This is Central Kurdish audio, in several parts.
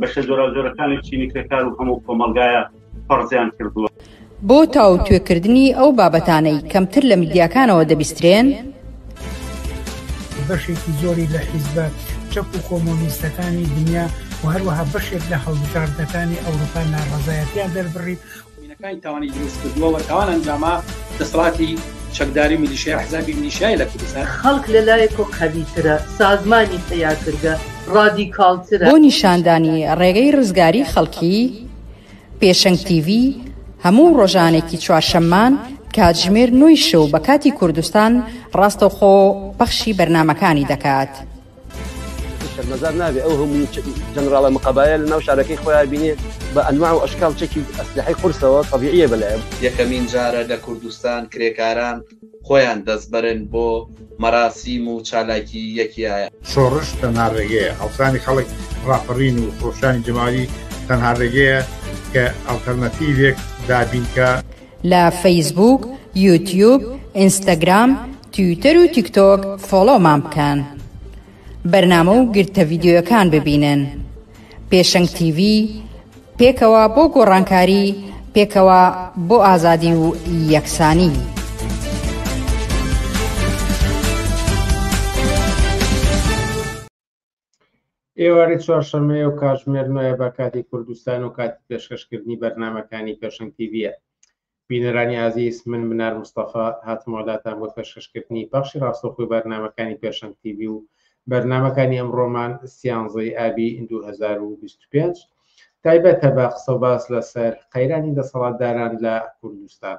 بەشە جۆراوجۆرەکانی چینی کرێکار و هەموو کۆمەڵگایە فەرزیان کردووە. بۆ تاوتوێکردنی ئەو بابەتانەی کەمتر لە میدیاکانەوە دەبیسترێن، بەشێکی زۆری لە حیزبە چەپ و کۆمۆنیستەکانی دنیا و هەروەها بەشێک لە هەڵبژاردنەکانی ئەوروپا ناڕەزایەتیان دەربڕی، مینەکانی تاوانی دروست کردووە و تاوان ئەنجاما دەسەڵاتی چەکداری میلیشیا حزابی میلیشیای لە کوردستان خەڵک لە لایەک و قەویترە، سازمانی پەیاکردە ڕادیکاڵترە. بۆ نیشاندانی ڕێگەی ڕزگاری خەڵکی، پێشەنگ تیڤی هەموو ڕۆژانێکی چوارشەممان کاتژمێر نۆی شەو بە کاتی کوردستان ڕاستەوخۆ پەخشی بەرنامەکانی دەکات. شەرمەزار نابێ ئەو هەموو جەنراڵە مقابایە لە ناو شارەکەی خۆیان بینێ بە ئەنواع و ئەشکال چەکی ئەسلحەی قورسەوە طبیعیە بەلایە یەکەمین جارە لە کوردستان کرێکاران خۆیان دەستبەرن بۆ مەراسیم و چالاکی یەکیایە. شۆڕش تەنها ڕێگەیە، هەڵسانی خەڵک، ڕاپەڕین و خرۆشانی جەماوەری تەنها ڕێگەیە کە ئەڵتەرناتیڤێک دابینکا. لە فەیسبووک، یوتیوب، ئینستاگرام، تویتەر و تیکتۆک فۆڵۆومان بکەن. بەرنامە و گرتە ڤیدیۆیەکان ببینن. پێشەنگ تیڤی، پێکەوە بۆ گۆڕانکاری، پێکەوە بۆ ئازادی و یەکسانی. ئێوارەی چوارشەمەیە و کاتژمێر نوێە بە کاتی کوردستان و کاتی پێشکەشکردنی بەرنمەکانی پێشنگ تیڤە بینەرانی ئازیز من منار مستەفا هاتمۆلاتان بۆ پێشکەشکردنی پاشی ڕاستەخۆی بەرنمەکانی پێشنگ تیوی و بەرنمەکانی ئەمڕۆمان سیانزەی ئابی 2025 تایبەتە بە قسە باس لەسەر قەیرانی دەسەڵاتداران لە کوردستان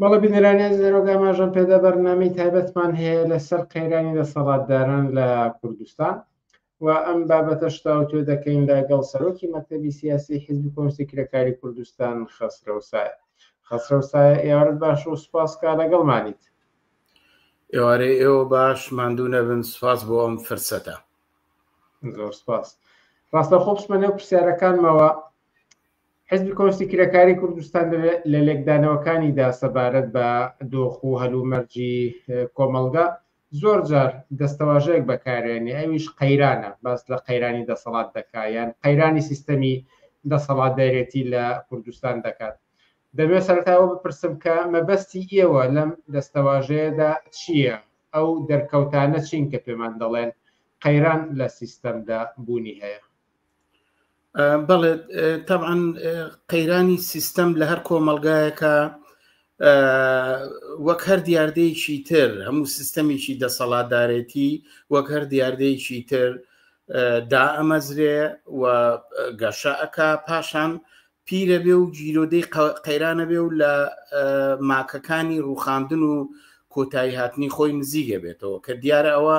بەڵێ بینەرانی ئەزیز ئێرۆگا ئاماژەم پێدا بەرنامەی تایبەتمان هەیە لەسەر قەیرانی دەسەڵاتداران لە کوردستان و ئەم بابەتەش تاوتوێ دەکەین لەگەڵ سەرۆکی مەکتەبی سیاسی حیزبی کۆنسی کرێکاری کوردستان خەسرەوسایە خەسرەوسایە ئێوارت باش و سوپاس کا لەگەڵمانیت ئێوارەی ئێوە باش ماندوو نەبن سوپاس بۆ ئەم فرسەتە زۆر سوپاس ڕاستەخۆ بچمە نێو پرسیارەکانمەوە حزبی کۆستی کرێکاری کوردستان لە لێکدانەوەکانیدا سەبارەت بە دۆخ و هەلومەرجی کۆمەلگا زۆر جار دەستەواژەیەک بەکارێنێ ئەویش قەیرانە باس لە قەیرانی دەسەڵات دەکا یان قەیرانی سیستەمی دەسەڵاتدارێتی لە کوردستان دەکات دەبێت سەرتاوە بپرسم کە مەبەستی ئێوە لەم دەستەواژەیەدا چییە ئەو دەرکەوتانە چین کە پێمان دەڵێن قەیران لە سیستەمدا بوونی هەیە بەڵێ تەعاان قەیرانی سیستەم لە هەر کۆمەلگایەکە وەک هەر دیاردەیەکی تر هەموو سیستەمێکی دەسەڵاتدارێتی وەک هەر دیاردەیەکی تر دا ئەمەزرێ و گەشە ئەک پاشان پیرە بێ و گیرۆدەی قەیرانە بێ و لە ماکەکانی ڕوخاندن و کۆتایی هاتنی خۆی نزیگە بێتەوە کە دیارە ئەوە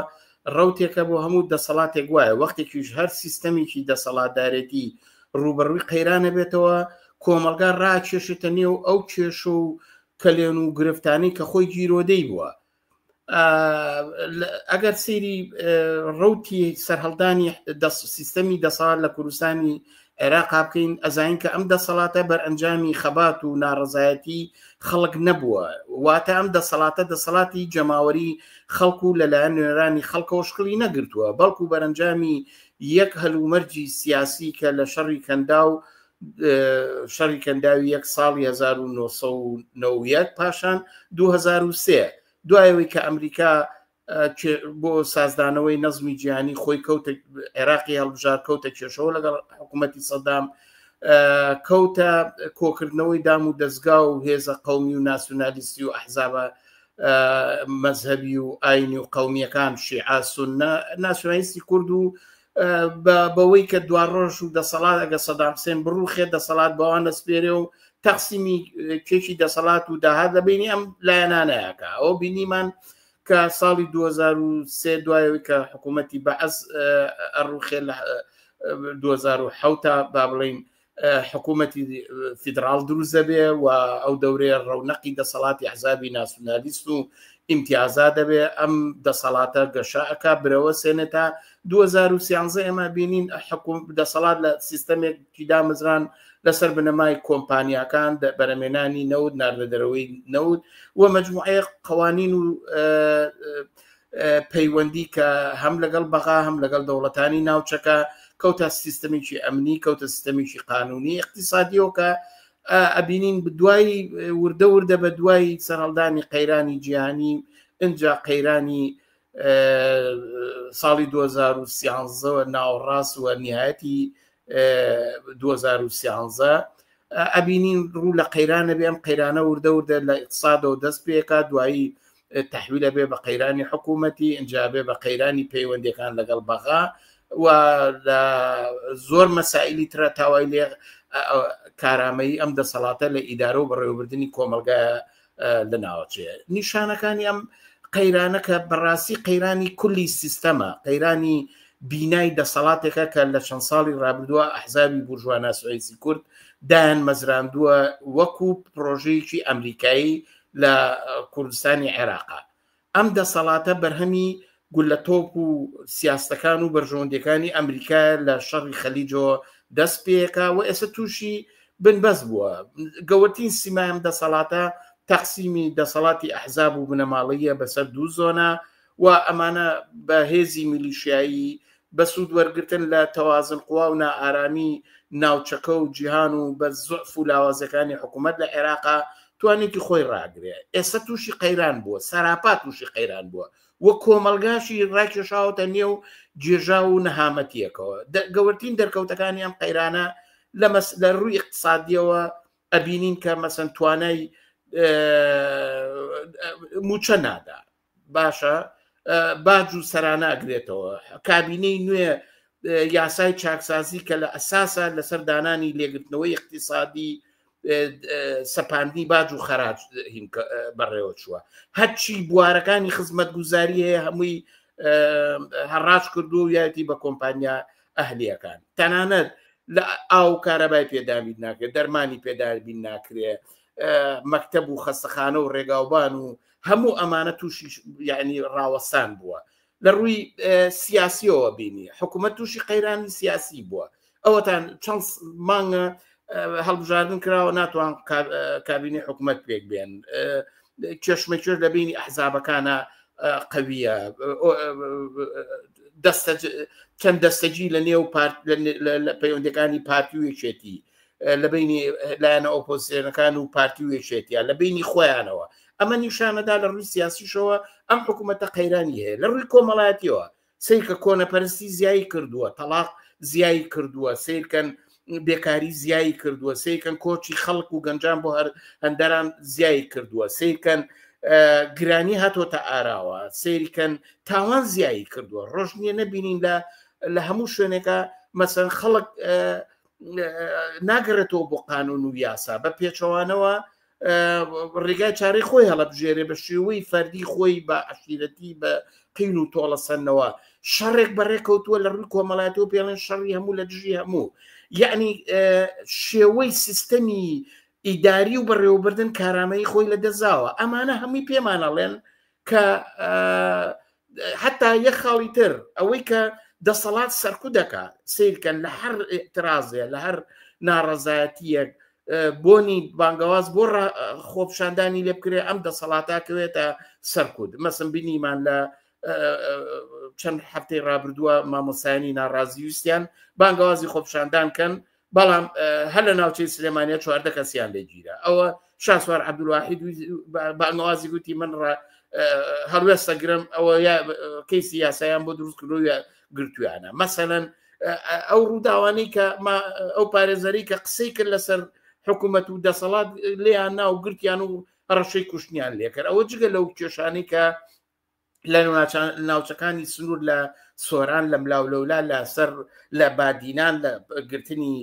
ڕوتێکە بۆ هەموو دەسەڵاتێک وایە وەختێکیش هەر سیستەمێکی دەسەڵاتدارێتی ڕوبەڕووی قەیرانە بێتەوە کۆمەلگا ڕاکێشێتە نێو ئەو کێش و کەلێن و گرفتانی کە خۆی گیرۆدەی بووە ئەگەر سری ڕوتی سەرهەڵدانی سیستەمی دەسەڵات لە کوردستانی عێراق بکەین ئەزانین کە ئەم دەسەڵاتە بەر ئەنجامی خەبات و ناڕزایەتی خەڵک نەبووە واتە ئەم دەسەڵاتە دەسەڵاتی جەماوەری خەڵکو و لەلایەن نوێرانی خەڵکەوە شکڵی نەگرتووە بەڵکو بەرەنجامی یەک هەلومەرجی سیاسی کە لە شەڕی کەندا و شەڕی کەنداوی یەک ساڵی 1990 پاشان 2023 دوایەوەی کە ئەمریکا بۆ سازدانەوەی نەزمی جیهانی خۆی کەوت عێراقی هەڵبژار کەوتە کێشەوە لەگەڵ حکوومەتتی سەدام کەوتە کۆکردنەوەی دام و دەستگا و هێزە قومی و ناسیونالیستی و ئەحزابە مەذهبی و ئاینی و قومیەکان شیعاسونە ناسیونالیستی کورد و بە بەوەی کە دوا ڕۆژ و دەسەڵات ئەگە سەدام حسێن بڕوخێ دەسەڵات بەوان نەسپێرێ و تەقسیمی کێکی دەسەڵات و داهات لە بینی ئەم لایەنانەیەکە ئەو بینیمان کە ساڵی 2023 دوایەوەی کە حکوومەتتی بەعس ڕوخێ لە 2010 با بڵین حکوومەتی فیدراڵ دروست دەبێ و ئەو دەورێ ڕەونەقی دەسەڵاتی حزابی ناسیونالیست و ئیمتیازا دەبێ ئەم دەسەڵاتە گەشەکە برەوە سێنێت تا 2013 ئێمە بینین حکوم دەسەڵات لە سیستەمێک پیدا مزران لەسەر بنەمای کۆمپانیاکان بەرەمێنانی نەوت ناردە دەرەوەی نەوت و مجموعەیە قوانین و پەیوەندی کە هەم لەگەڵ بەغا هەم لەگەڵ دەوڵەتانی ناوچەکە کەوتە سیستەمێکی ئەمنی کەوتە سیستەمێکی قانونی اقتصادیەوە کە ئەبینین دوای وردە وردە بە دوای سەرهەڵدانی قەیرانی جیهانی ئەجا قەیرانی ساڵی 2013ەوە ناوەڕاست وە نهایەتی 2013 ئەبینین ڕوو لە قەیرانە بێم قەیرانە وردە وردە لە ئیقتصادەوە دەست پێکا دوایی تحویل ئەبێ بە قەیرانی حکوومەتی ئەجابێ بە قەیرانی پەیوەندەکان لەگەڵ بەغا و لە زۆر مەسائلی ترە تاوای لێ کارامەیی ئەم دەسەڵاتە لە ئیدارە و بەڕێوەبردننی کۆمەلگا لە ناوچێ نیشانەکانی ئەم قەیرانەکە بەڕاستی قەیرانی کولی سیستەمە قەیرانی بینای دەسەڵاتێکە کە لە چەند ساڵی رابردووە ئەحزابی بورژواناسوئیسی کورد دایان مەزراندووە وەکو پرۆژەیەکی ئەمریکایی لە کوردستانی عێراقا ئەم دەسەڵاتە بەرهەمی گولە تۆپ و سیاستەکان و بەرژەوەندەکانی ئەمریکا لە شەڕی خەلیجۆ دەست پێکا و ئێستا تووشی بنبەست بووە گەورترین سیمایم دەسەڵاتە تەقسیمی دەسەڵاتی ئەحزاب و بنەماڵەیە بەسەر دوو زۆنە و ئەمانە بە هێزی میلیشیایی بە سوود وەرگرتن لە تەوازن قوا و نائارامی ناوچەکە و جیهان و بە زوعف و لاوازیەکانی حکوومەت لە عێراق توانیویەتی خۆی ڕاگرێ ئێستا تووشی قەیران بووە سەراپا تووشی قەیران بووە و کۆمەلگاشی ڕاکێشاوەتە نێو گێژا و نەهامەتیەکەوە گەورترین دەرکەوتەکانی ئەم قەیرانە لە مەس لە ڕووی اقتصادیەوە ئەبینین کە مەسن توانای موچە نادا باشە باج و سەراناگرێتەوە کابینەی نوێ یاسای چاکسازی کە لە ئەساسە لەسەر دانانی لێگرتنەوەی اقتصادی سەپاندی باج و خەراج بەڕێوە چووە هەرچی بوارەکانی خزمەت گوزاری هەیە هەمووی هەڕاج کردو و یاتی بە کۆمپانیا ئەهلیەکان تەنانەت لە ئاو کارەبای پێدابیت ناکرێت دەرمانی پێدابین ناکرێت مەکتب و خەستەخانە و ڕێگاوبان و هەموو ئەمانە تووشی یعنی ڕاوەسان بووە لە ڕووی سیاسیەوە بینی حکوومەت تووشی قەیرانی سیاسی بووە ئەوەتان چەند مانگە هەڵبژاردن کراوە ناتوان کابینی حکوومەت پێک بێن کێشمەکێش لە بینی ئەحزابەکانە قویە دەستە چەند دەستەجی لە نێو پارت لە پەیوەندەکانی پارتی و یەکێتی لە بینی لایەنە ئۆپۆزیسیۆنەکان و پارتی و یەکێتیان لە بینی خۆیانەوە ئەمە نیشانەدا لە ڕووی سیاسیشەوە ئەم حکوومەتە قەیرانی هەیە لە ڕووی کۆمەڵایەتیەوە سیرکە کۆنەپەرستی زیایی کردووە تەلاق زیایی کردووە سیرکەن بێکاری زیایی کردووە سیرکەن کۆچی خەڵک و گەنجان بۆ هەر هەندەران زیایی کردووە سیرکەن گرانی هاتۆتە ئاراوە سیرکەن تاوان زیایی کردووە ڕۆژنیە نەبینین لە لە هەموو شوێنێکە مەسەن خەڵک ناگەڕێتەوە بۆ قانون و یاسا بە پێچەوانەوە ڕێگای چارەی خۆی هەڵبژێرێ بە شێوەی فەردی خۆی بە عشیرەتی بە قین و تۆڵەسەنەوە شەڕێک بەڕێکەوتووە لە ڕووی کۆمەڵاتەوە پێڵێن شەڕی هەموو لە دژی هەموو یعنی شێوەی سیستەمی ئیداری و بەڕێوەبردن کارامەی خۆی لە دەزاوە ئەمانە هەمووی پێمانەڵێن کە حتا یە خاڵی تر ئەوەی کە دەسەڵات سەرکو دەکە سیرکەن لە هەر ئترازێ لە هەر ناڕەزایەتیەک بۆنی بانگەواز بۆ خۆپشاندانی لێ بکرێ ئەم دەسەڵاتاکەوێتە سەرکوت مەسم بینیمان لە چەند هەفتەی ڕابردووە مامۆسایانی ناڕازیویستیان بانگەوازی خۆپشاندان کەن بەڵام هەر لە ناوچەی سلێمانە چواردە کەسیان لێگیرە ئەوە شاسوار عبدواحید بانوازی گوتی من ڕ هەڵوێستە گرم ئەوە کەیسی یاسایان بۆ دروست کردوە گرتویانە مەسەەن ئەو ڕووداوانی کە ئەو پارێزەری کە قسەی کرد لەسەر حکوومەت و دەسەڵات لیان ناو گرتیان و ڕەشەی کوشتنیان لێکرد ئەوە جگە لەو کێشانی کە لە ناوچەکانی سنوور لە سۆران لە ملااو لەولا لە سەر لە بادینان لە گرتنی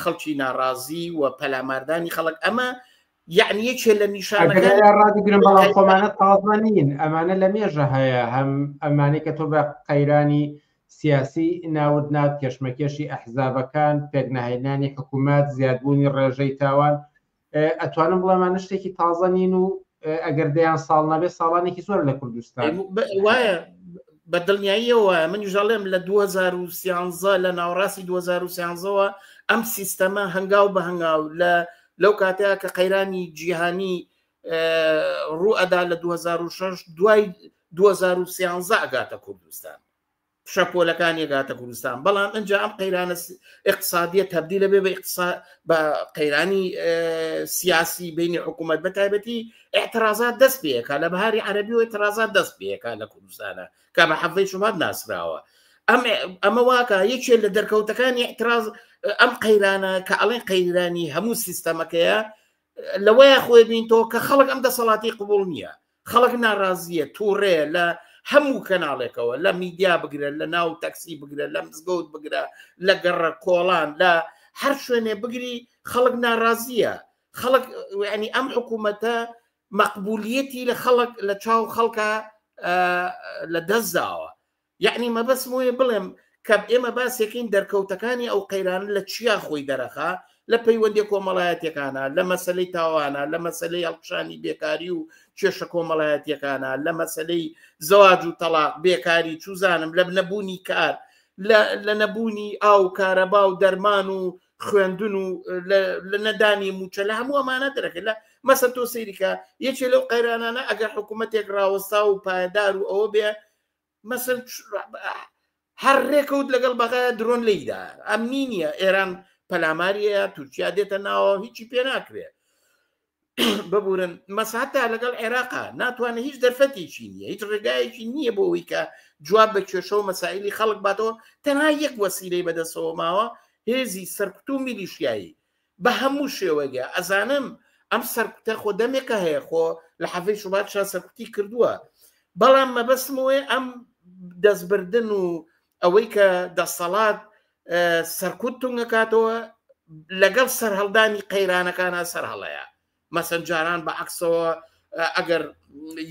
خەڵکی ناڕازی و پەلاماردانی خەڵک ئەمە یعنی یەکێ لە نیشانەکان ڕاگرم بەڵام خۆمانە تازمان نین ئەمانە لە مێژە هەیە هەم ئەمانەی کە تۆ بە قەیرانی سیاسی ناود نات کێشمەکێشی ئەحزابەکان پێکناهێنانی حکوومەت زیادبوونی ڕێژەی تاوان ئەتوانم بڵێمانە شتێکی تازە نین و ئەگەر دەیان ساڵ نەبێ ساڵانێکی زۆر لە کوردستان وایە بە دڵنیاییەوە من ژەڵێم لە 2013 لە ناوەڕاستی 2013ەوە ئەم سیستەمە هەنگاو بە هەنگاو لە لەو کاتەیە کە قەیرانی جیهانی ڕوو ئەدا لە 2006 دوای 2013 ئەگاتە کوردستان شەپۆلەکان یەگاتە کوردستان بەڵام ئەجا ئەم قەیرانە اقتصادیە تبدی لە بێ بە بە قەیرانی سیاسی بینی حکوومەت بە تایبەتی اعترازات دەست پێەکە لە بەهاری عەربی و اعترازات دەست پێەکە لە کوردستانە کە بە حەفەی شوبات ناسراوە ئەم ئەمە واکە یەکێ لە دەرکەوتەکانی اعتراز ئەم قەیرانە کە ئەڵێن قەیرانی هەموو سیستەمەکەیە لەوەیە خۆێ بین تۆ کە خەڵک ئەم دەسەڵاتی قوبول نییە خەڵک ناڕازیە تووڕێ لە هەموو کەناڵێکەوە لە میدیا بگرە لە ناو تەکسی بگرە لە مزگەوت بگرە لە گەڕە کۆڵان لە هەر شوێنێ بگری خەڵک ناڕازیە خەڵک ینی ئەم حکوومەتە مەقبولیەتی لە خەڵک لە چاو خەڵکە لە دەستداوە یەعنی مەبەستم وەیە بڵێم کە ئێمە باسێکین دەرکەوتەکانی ئەو قەیرانە لە چیا خۆی دەرەخا لە پەیوەندی کۆمەڵایەتەکانە لە مەسلەی تاوانە لە مەسلەی هەڵکشانی بێکاری و کێشە کۆمەڵایەتەکانە لە مەسلەی زەواج و تەلاق بێکاری چوزانم لە نەبوونی کار لە نەبوونی ئاو کارەبا و دەرمان و خوێندن و لە نەدانی موچە لە هەموو ئەمانە دەرەکە لە مەسە تۆ سەیریکە یەکێ لەو قەیرانانە ئەگەر حکوومەتێک ڕاوەستا و پایدار و ئەوە بێ مەسل هەر ڕێکەوت لەگەڵ بەغایە درۆن لیدا ئەمنی نییە ئێران پەلاماریەیە تورکیا دێتە ناوە هیچی پێ ناکرێ ببورن مەساتا لەگەڵ عێراقا ناتوانێت هیچ دەرفەتێکی نییە هیچ ڕێگایەکی نییە بۆ ئەوی کە جواب بە کێشە و مەسائلی خەڵک باتەوە تەنها یەک وەسیرەی بەدەسەوە ماوە هێزی سەرکوت و میلیشیایی بە هەموو شێوەگە ئەزانم ئەم سەرکوتە خۆ دەمێکە هەیە خۆ لە حەفەی شوبات شا سەرکوتی کردووە بەڵام مەبەستمەوەی ئەم دەستبردن و ئەوەی کە دەسەڵات سەرکوت تونگەکاتەوە لەگەڵ سەرهەڵدانی قەیرانەکانە سەر هەڵەیە مەسەن جاران بە عکسەوە ئەگەر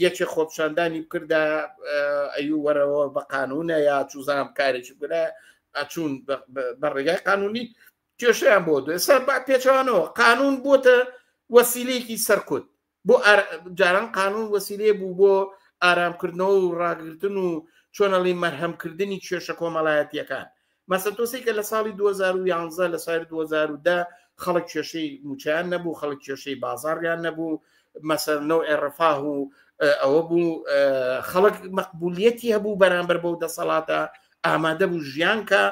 یەکێ خۆپشاندانی بکردا ئەی وەرەوە بە قانونە یا چوزانام کارێکی بگرە ئەچوون بە ڕێگای قانونی کێشیان بۆ دو ئێستا با پێچوانەوە قانون بۆتە وەسیلێکی سەرکوت بۆ جاران قانون وەسیلێ بوو بۆ ئارامکردنەوە و ڕاگرتن و چۆنەڵی مەرهەمکردنی کێشە کۆمەڵایەتیەکان مەسە تۆسی کە لە ساڵی 2011 لە سایر 2010 خەڵک کێشەی موچیان نەبوو خەڵک کێشەی بازاڕیان نەبوو مەسەرنەوە ئێڕفاه و ئەوە بوو خەڵک مەقبولیەتی هەبوو بەرامبەر بەو دەسەڵاتە ئامادە بوو ژیانکە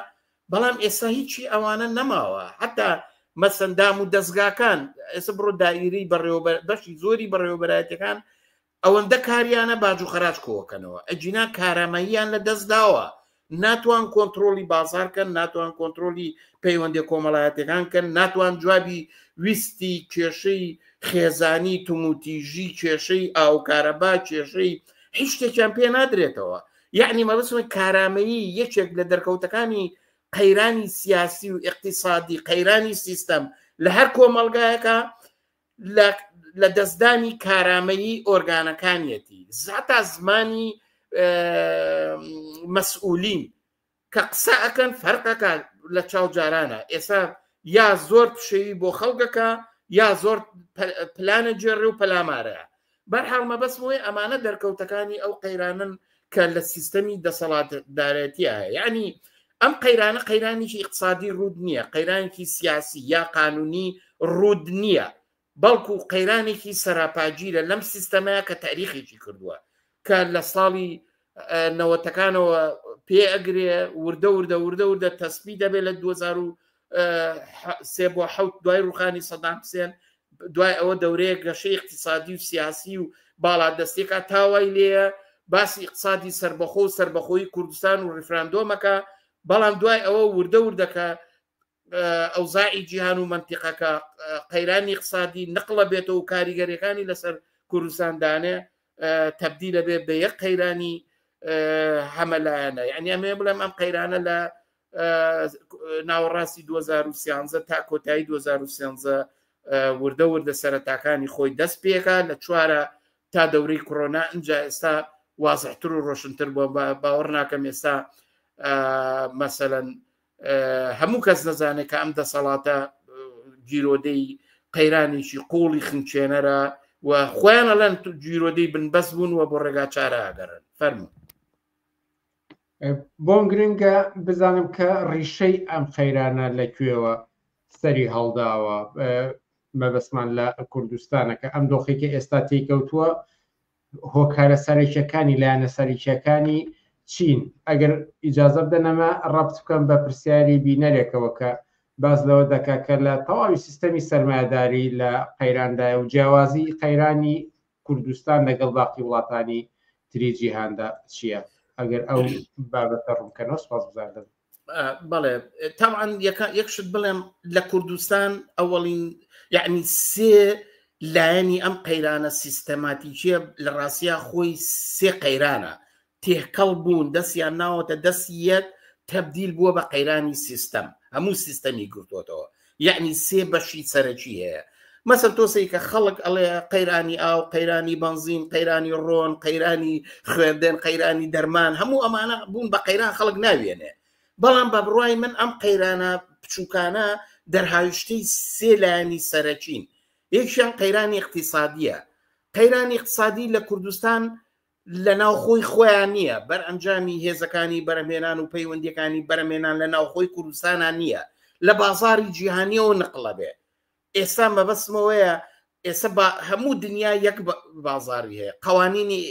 بەڵام ئێستا هیچی ئەوانە نەماوە حتا مەسەن دام و دەستگاکان ئێستا بڕۆ دایری بەڕێوەبەر بەشی زۆری بەڕێوەبەرایەتەکان ئەوەندە کاریانە باج و خراج کۆکەنەوە ئەجینا کارامەییان لە دەست داوە ناتوان کۆنتترۆلی بازارکەن ناتوان کۆنتترۆلی پەیوەندی کۆمەڵایەتەکان کەن ناتوان جوابی ویستی کێشەی خێزانی توموتیژی کێشەی ئاوکارەبا کێشەی هیچ شتێکیان پێ نادرێتەوە یعنی مەبەستمە کارامەیی یەکێک لە دەرکەوتەکانی قەیرانی سیاسی و اقتصادی قەیرانی سیستەم لە هەر کۆمەلگایەکە لە دەستدانی کارامەیی ئۆرگانەکانیەتی زاتا زمانی مەسئولین کە قسە ئەکەن فەرقەکە لە چاو جارانە ئێسا یا زۆر پشێوی بۆ خەڵگەکە یا زۆر پلانە جێڕێ و پەلامارەیە بەرحاڵ مەبەست بۆی ئەمانە دەرکەوتەکانی ئەو قەیرانن کە لە سیستەمی دەسەڵات دارێتیە یعنی ئەم قەیرانە قەیرانیی اقتصادی ڕوود نییە قەیرانێکی سیاسی یا قانونی ڕوود نییە بەڵکو قەیرانێکی سەراپاگیرە لەم سیستەمەیە کە تاریخێکی کردووە کە لە ساڵی نەوەتەکانەوە پێ ئەگرێ وردە وردە وردە وردە تەسبی دەبێت لە 2023 بۆ حوت دوای ڕوخانی سەدام حسێن دوای ئەوە دەورەیە گەشە اقتصادی و سیاسی و باڵا دەستێکا تاوای لێە باسی اقتصادی سربەخۆ و سربەخۆی کوردستان و ڕفراندۆمەکە بەڵام دوای ئەوە وردە وردەکە ئەوزاعی جیهان و مەنتیقەکە قەیرانی قسادی نقلە بێتەوە و کاریگەریەکانی لەسەر کوردستاندانێ تبدی لەبێ بە یەک قەیرانی هەمەلایەنە یعنی ئەمێ بڵێم ئەم قەیرانە لە ناوەڕاستی 2013 تا کۆتایی 2013 وردە وردە سەرەتاکانی خۆی دەست پێکا لە چوارە تا دەورەی کۆرۆنا ئەجا ئێستا وازحتر و ڕۆشنتر بۆ باوەڕ ناکەم ئێستا مەسەەن هەموو کەس دەزانێت کە ئەم دەسەڵاتە گیرۆدەی قەیرانێکی قوڵی خنچێنەرە و خۆیان ئەلەن گیرۆدەی بنبەست بوون و بۆ ڕێگا چاراگەرن فەرمو بۆم گرنگە بزانم کە ڕیشەی ئەم قەیرانە لە کوێوە سەری هەڵداوە مەبەسمان لە کوردستانەکە ئەم دۆخێکی ئێستا تێکەوتووە هۆکارە سەرەکیەکانی لایەنە سەرکیەکانی چین ئەگەر ئیجازە بدەنەمە ڕەبت بکەم بە پرسیاری بینەرێکەوە کە باز لەوە دەکا کە لە تەواوی سیستەمی سەرمایداری لە قەیراندای و جیاوازی قەیرانی کوردستان لەگەڵ باقی وڵاتانی تری جیهاندا چییە ئەگەر ئەو بابەتە ڕوونکەەوە سپاس بزاردەبن بەڵێ تاوان یەکشت بڵێم لە کوردستان ئەوەڵین یعنی سێ لایەنی ئەم قەیرانە سیستەماتیکیە لە ڕاستیا خۆی سێ قەیرانە تێکەڵ بوون دەستیان ناوەتە دەست یەک تەبدیل بووە بە قەیرانی سیستەم هەموو سیستەمی گرتوتەوە یعنی سێ بەشی سەرەکی هەیە مەسەر تۆسی کە خەڵک ئەڵێ قەیرانی ئاو قەیرانی بنزین قەیرانی ڕۆن قەیرانی خوێندێن قەیرانی دەرمان هەموو ئەمانە بوون بە قەیران خەڵک ناوێنێ بەڵام بە بڕای من ئەم قەیرانە بچووکانە دەرهاویشتەی سێ لایەنی سەرەکین یەکیان قەیرانی اقتصادیە قەیرانی اقتصادی لە کوردستان لە ناوخۆی خۆیان نییە بەر ئەنجامی هێزەکانی بەرەمێنان و پەیوەندیەکانی بەرەمێنان لە ناوخۆی کوردستانە نییە لە بازاری جیهانیەوە نقلە بێ ئێستا مەبەستمەوەیە ئێستا هەموو دنیا یەک بازاری هەیە قوانینی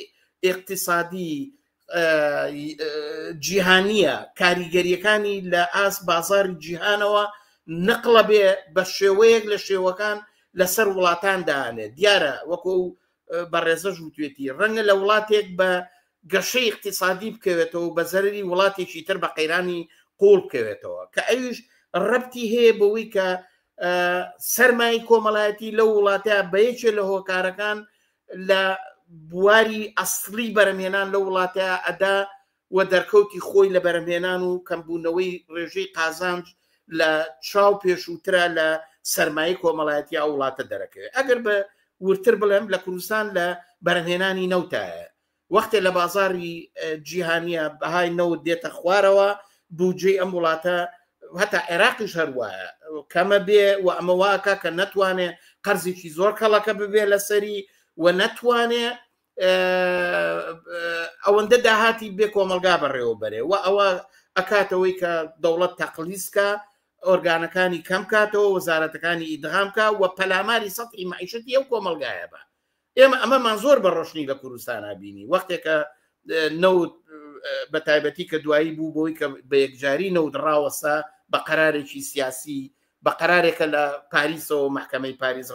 اقتصادی جیهانیە کاریگەریەکانی لە ئاس بازاری جیهانەوە نقلە بێ بە شێوەیەک لە شێوەکان لەسەر وڵاتان دانێ دیارە وەکو بەڕێزەش وتوێتی ڕەنگە لە وڵاتێک بە گەشەی اقتصادی بکەوێتەوە بە زەرری وڵاتێکی تر بە قەیرانی قوڵ بکەوێتەوە کە ئەویش ڕەتی هەیە بەوەی کە سەرمای کۆمەڵایەتی لە وڵاتە بە یەکێ لە هۆکارەکان لە بواری ئەسلی بەرەمهێنان لە وڵاتە ئەدا و دەرکەوتی خۆی لە بەرهەمهێنان و کەمبوونەوەی ڕێژەی قازانج لە چاو پێشووترە لە سەرمایەی کۆمەڵایەتی ئەو وڵاتە دەرەکەوێت ئەگەر بە وردتر بڵێم لە کوردستان لە بەرهەمهێنانی نەوتایە وەختێ لە بازاری جیهانیە بەهای نەوت دێتە خوارەوە بودجەی ئەم وڵاتە هەتا عێراقیش هەروایە کەمە بێ و ئەمە واکە کە نەتوانێ قەرزێکی زۆر کەڵەکە ببێ لەسەری و نەتوانێ ئەوەندە داهاتی بێ کۆمەلگا بەڕێوەبەرێ و ئەوە ئەکاتەوەی کە دەوڵەت تەقلیسکە ئۆرگانەکانی کەم کاتەوە وەزارەتەکانی ئیدغامکە و پەلاماری سەی معیشتی ئەو کۆمەلگایە بە ئێمە ئەمەمان زۆر بە ڕۆشنی لە کوردستانە بینی وەختێکە نەوت بە تایبەتی کە دوایی بوو بۆی کە بە یەکجاری نەودڕاوەسا بە قەرارێکی سیاسی بە قەرارێکە لە پاریسەوە محکمەی پاریس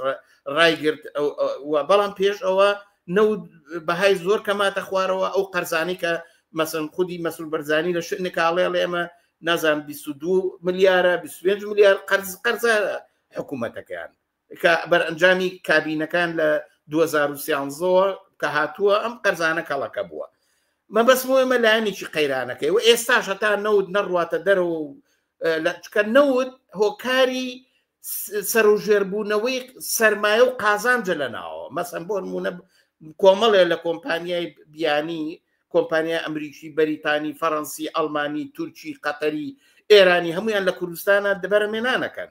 ڕایگررت بەڵام پێش ئەوە نەوت بەهای زۆر کەماتە خوارەوە ئەو قەرزانی کە مەسم خودی مەسول بەرزانی لە شت نکاڵێ ئێمە نازان 22 ملیارە 25 ملیار قەرز قەرزە حکوومەتەکەیان کە بەرئەنجامی کابینەکان لە 2013ەوە کە هاتووە ئەم قەرزانە کەڵەکە بووە مەبەسمەوەمە لایەنێکی قەیرانەکەی و ئێستا شەتا نەوت نەڕواتە دەرەوە و لەچکە نەوت هۆکاری سەرژێربوونەوەی سەرمایە و قازانجە لە ناوە مەسم بۆ نمونە کۆمەڵێ لە کۆمپانیای بیانی کۆمپانیا ئەمریکی بەریتانی فەڕەنسی ئەلمانی تورکی قەتەری ئێرانی هەمویان لە کوردستانە دەبەرە مێنانەکەن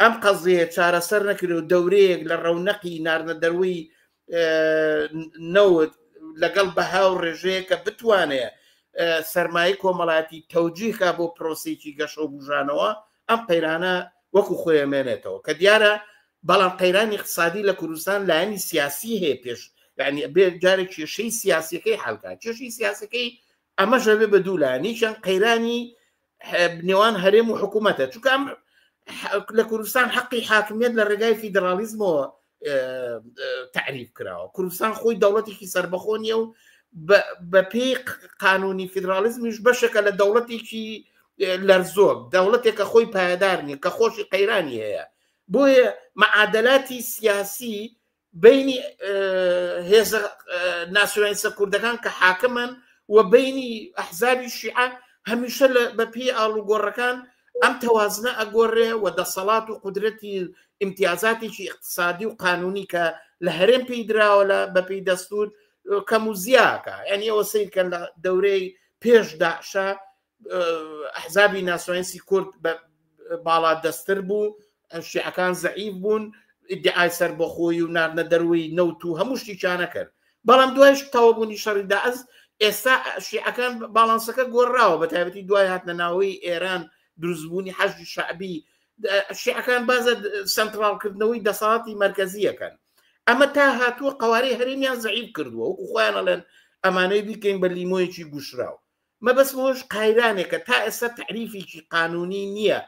ئەم قەزیەیە چارەسەر نەکرێ و دەورەیەک لە ڕەونەقی ناردنە دەروی نەوت لەگەڵ بەها و ڕێژەیە کە بتوانێ سەرمایە کۆمەڵاتی تەوجیهکە بۆ پرۆسێکی گەشە و بژانەوە ئەم قەیرانە وەکو خۆێمێنێتەوە کە دیارە بەڵام قەیرانی اقتصادی لە کوردستان لایەنی سیاسی هەیە پێش یعنی بێ جارێک کێشەی سیاسەکەی حلکە کێشی سیاسەکەی ئەمە ژەبێ بە دوولانیشان قەیرانی نێوان هەرێم و حکوومەتە چکام لە کوردستان حەقی حاکمیت لە ڕێگای فیدراالیزمەوە تعریف کراوە کوردستان خۆی دەوڵەتێکی سربەخۆ نیە و بە پێی قانونی فیدراالیزمیش بەشەکە لە دەوڵەتێکی لەرزۆک دەوڵەتێکە خۆی پایدار نیە کە خۆشی قەیرانی هەیە بۆیە معادلاتی سیاسی بەینی هێزە ناسیۆنالیستە کوردەکان کە حاکمن و بینی ئەحزابی شیعە هەمیشە بە پێی ئاڵوگۆڕەکان ئەم تەوازنە ئەگۆڕێ و دەسەڵات و قدرەتی ئیمتیازاتێکی اقتصادی و قانونی کە لە هەرێم پێی دراوە لە بەپی دەستور کەم و زیاکە یعنی ئەوە سیرکەن لە دەورەی پێش داشە ئەحزابی ناسۆنسی کورد بە باڵا دەستتر بوو شیعەکان زەعیف بوون ئیدعای سەر بۆ خۆی و ناردنە دەروی نەوت و هەموو شتیچانە کرد بەڵام دوایش تەوەبوونی شەڕیدا ئەز ئێستا شیعەکان باڵانسەکە گۆڕراوە بە تایبەتی دوای هاتنە ناوەی ئێران دروستبوونی حەشی شعبی شیعەکان بازە سنتراڵکردنەوەی دەسەڵاتی مرکزیەکەن ئەمە تا هاتووە قوارەی هەرێمیان زعیب کردووە وەکو خۆیانەڵێن ئەمانەی بیکەین بە لیمۆیەکی گوشراو مەبەست مەوەش قایرانێکە تا ئێستا تەعریفیکی قانونی نییە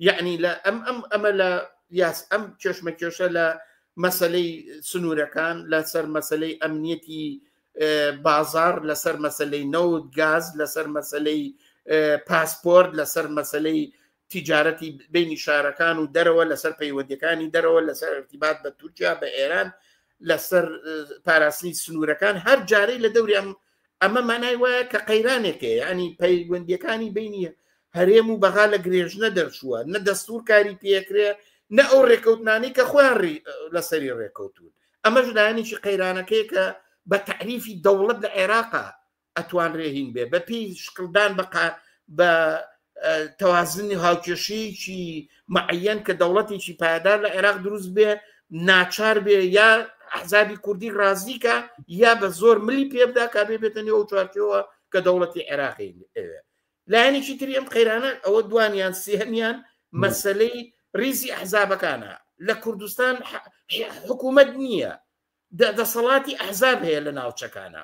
یعنی لە ئەم ئەم ئەمە لە یاس ئەم کێشمە کێشە لە مەسلەی سنوورەکان لەسەر مەسلەی ئەمنیەتی بازار لەسەر مەسلەی نەوت گاز لەسەر مەسلەی پاسپۆرت لەسەر مەسلەی تیجارەتی بینی شارەکان و دەرەوە لەسەر پەیوەندەکانی دەرەوە لەسەر ارتیبات بە تورکیا بە ئێران لەسەر پاراستنی سنوورەکان هەر جارەی لە دەوری ئەم ئەمە مانای وایە کە قەیرانێکێ ینی پەیوەندەکانی بینی هەرێم و بەغا لە گرێژنە دەرچووە نە دەستور کاری پێکرێ نە ئەو ڕێکەوتنانی کە خۆیان لەسەری ڕێکەوتون ئەمەش لایەنێکی قەیرانەکەی کە بە تعریفی دەوڵەت لە عێراقا ئەتوان رێهین بێ بە پێی شکڵدان بە بە تەوازنی هاوکێشەیەکی معەن کە دەوڵەتێکی پایدار لە عێراق دروست بێ ناچار بێ یا حزابی کوردی ڕازیکە یا بە زۆر ملی پێبدا کا بێ بێتەنی ئەو چوارچەوە کە دەوڵەتی عێراقی ئەوێ لایەنێکی تری ئەم قەیرانە ئەوە دوانیان سێهمیان مەسلەی ریزی ئەحزابەکانە لە کوردستان حکوومەت نییە دەسەڵاتی ئەحزاب هەیە لە ناوچەکانە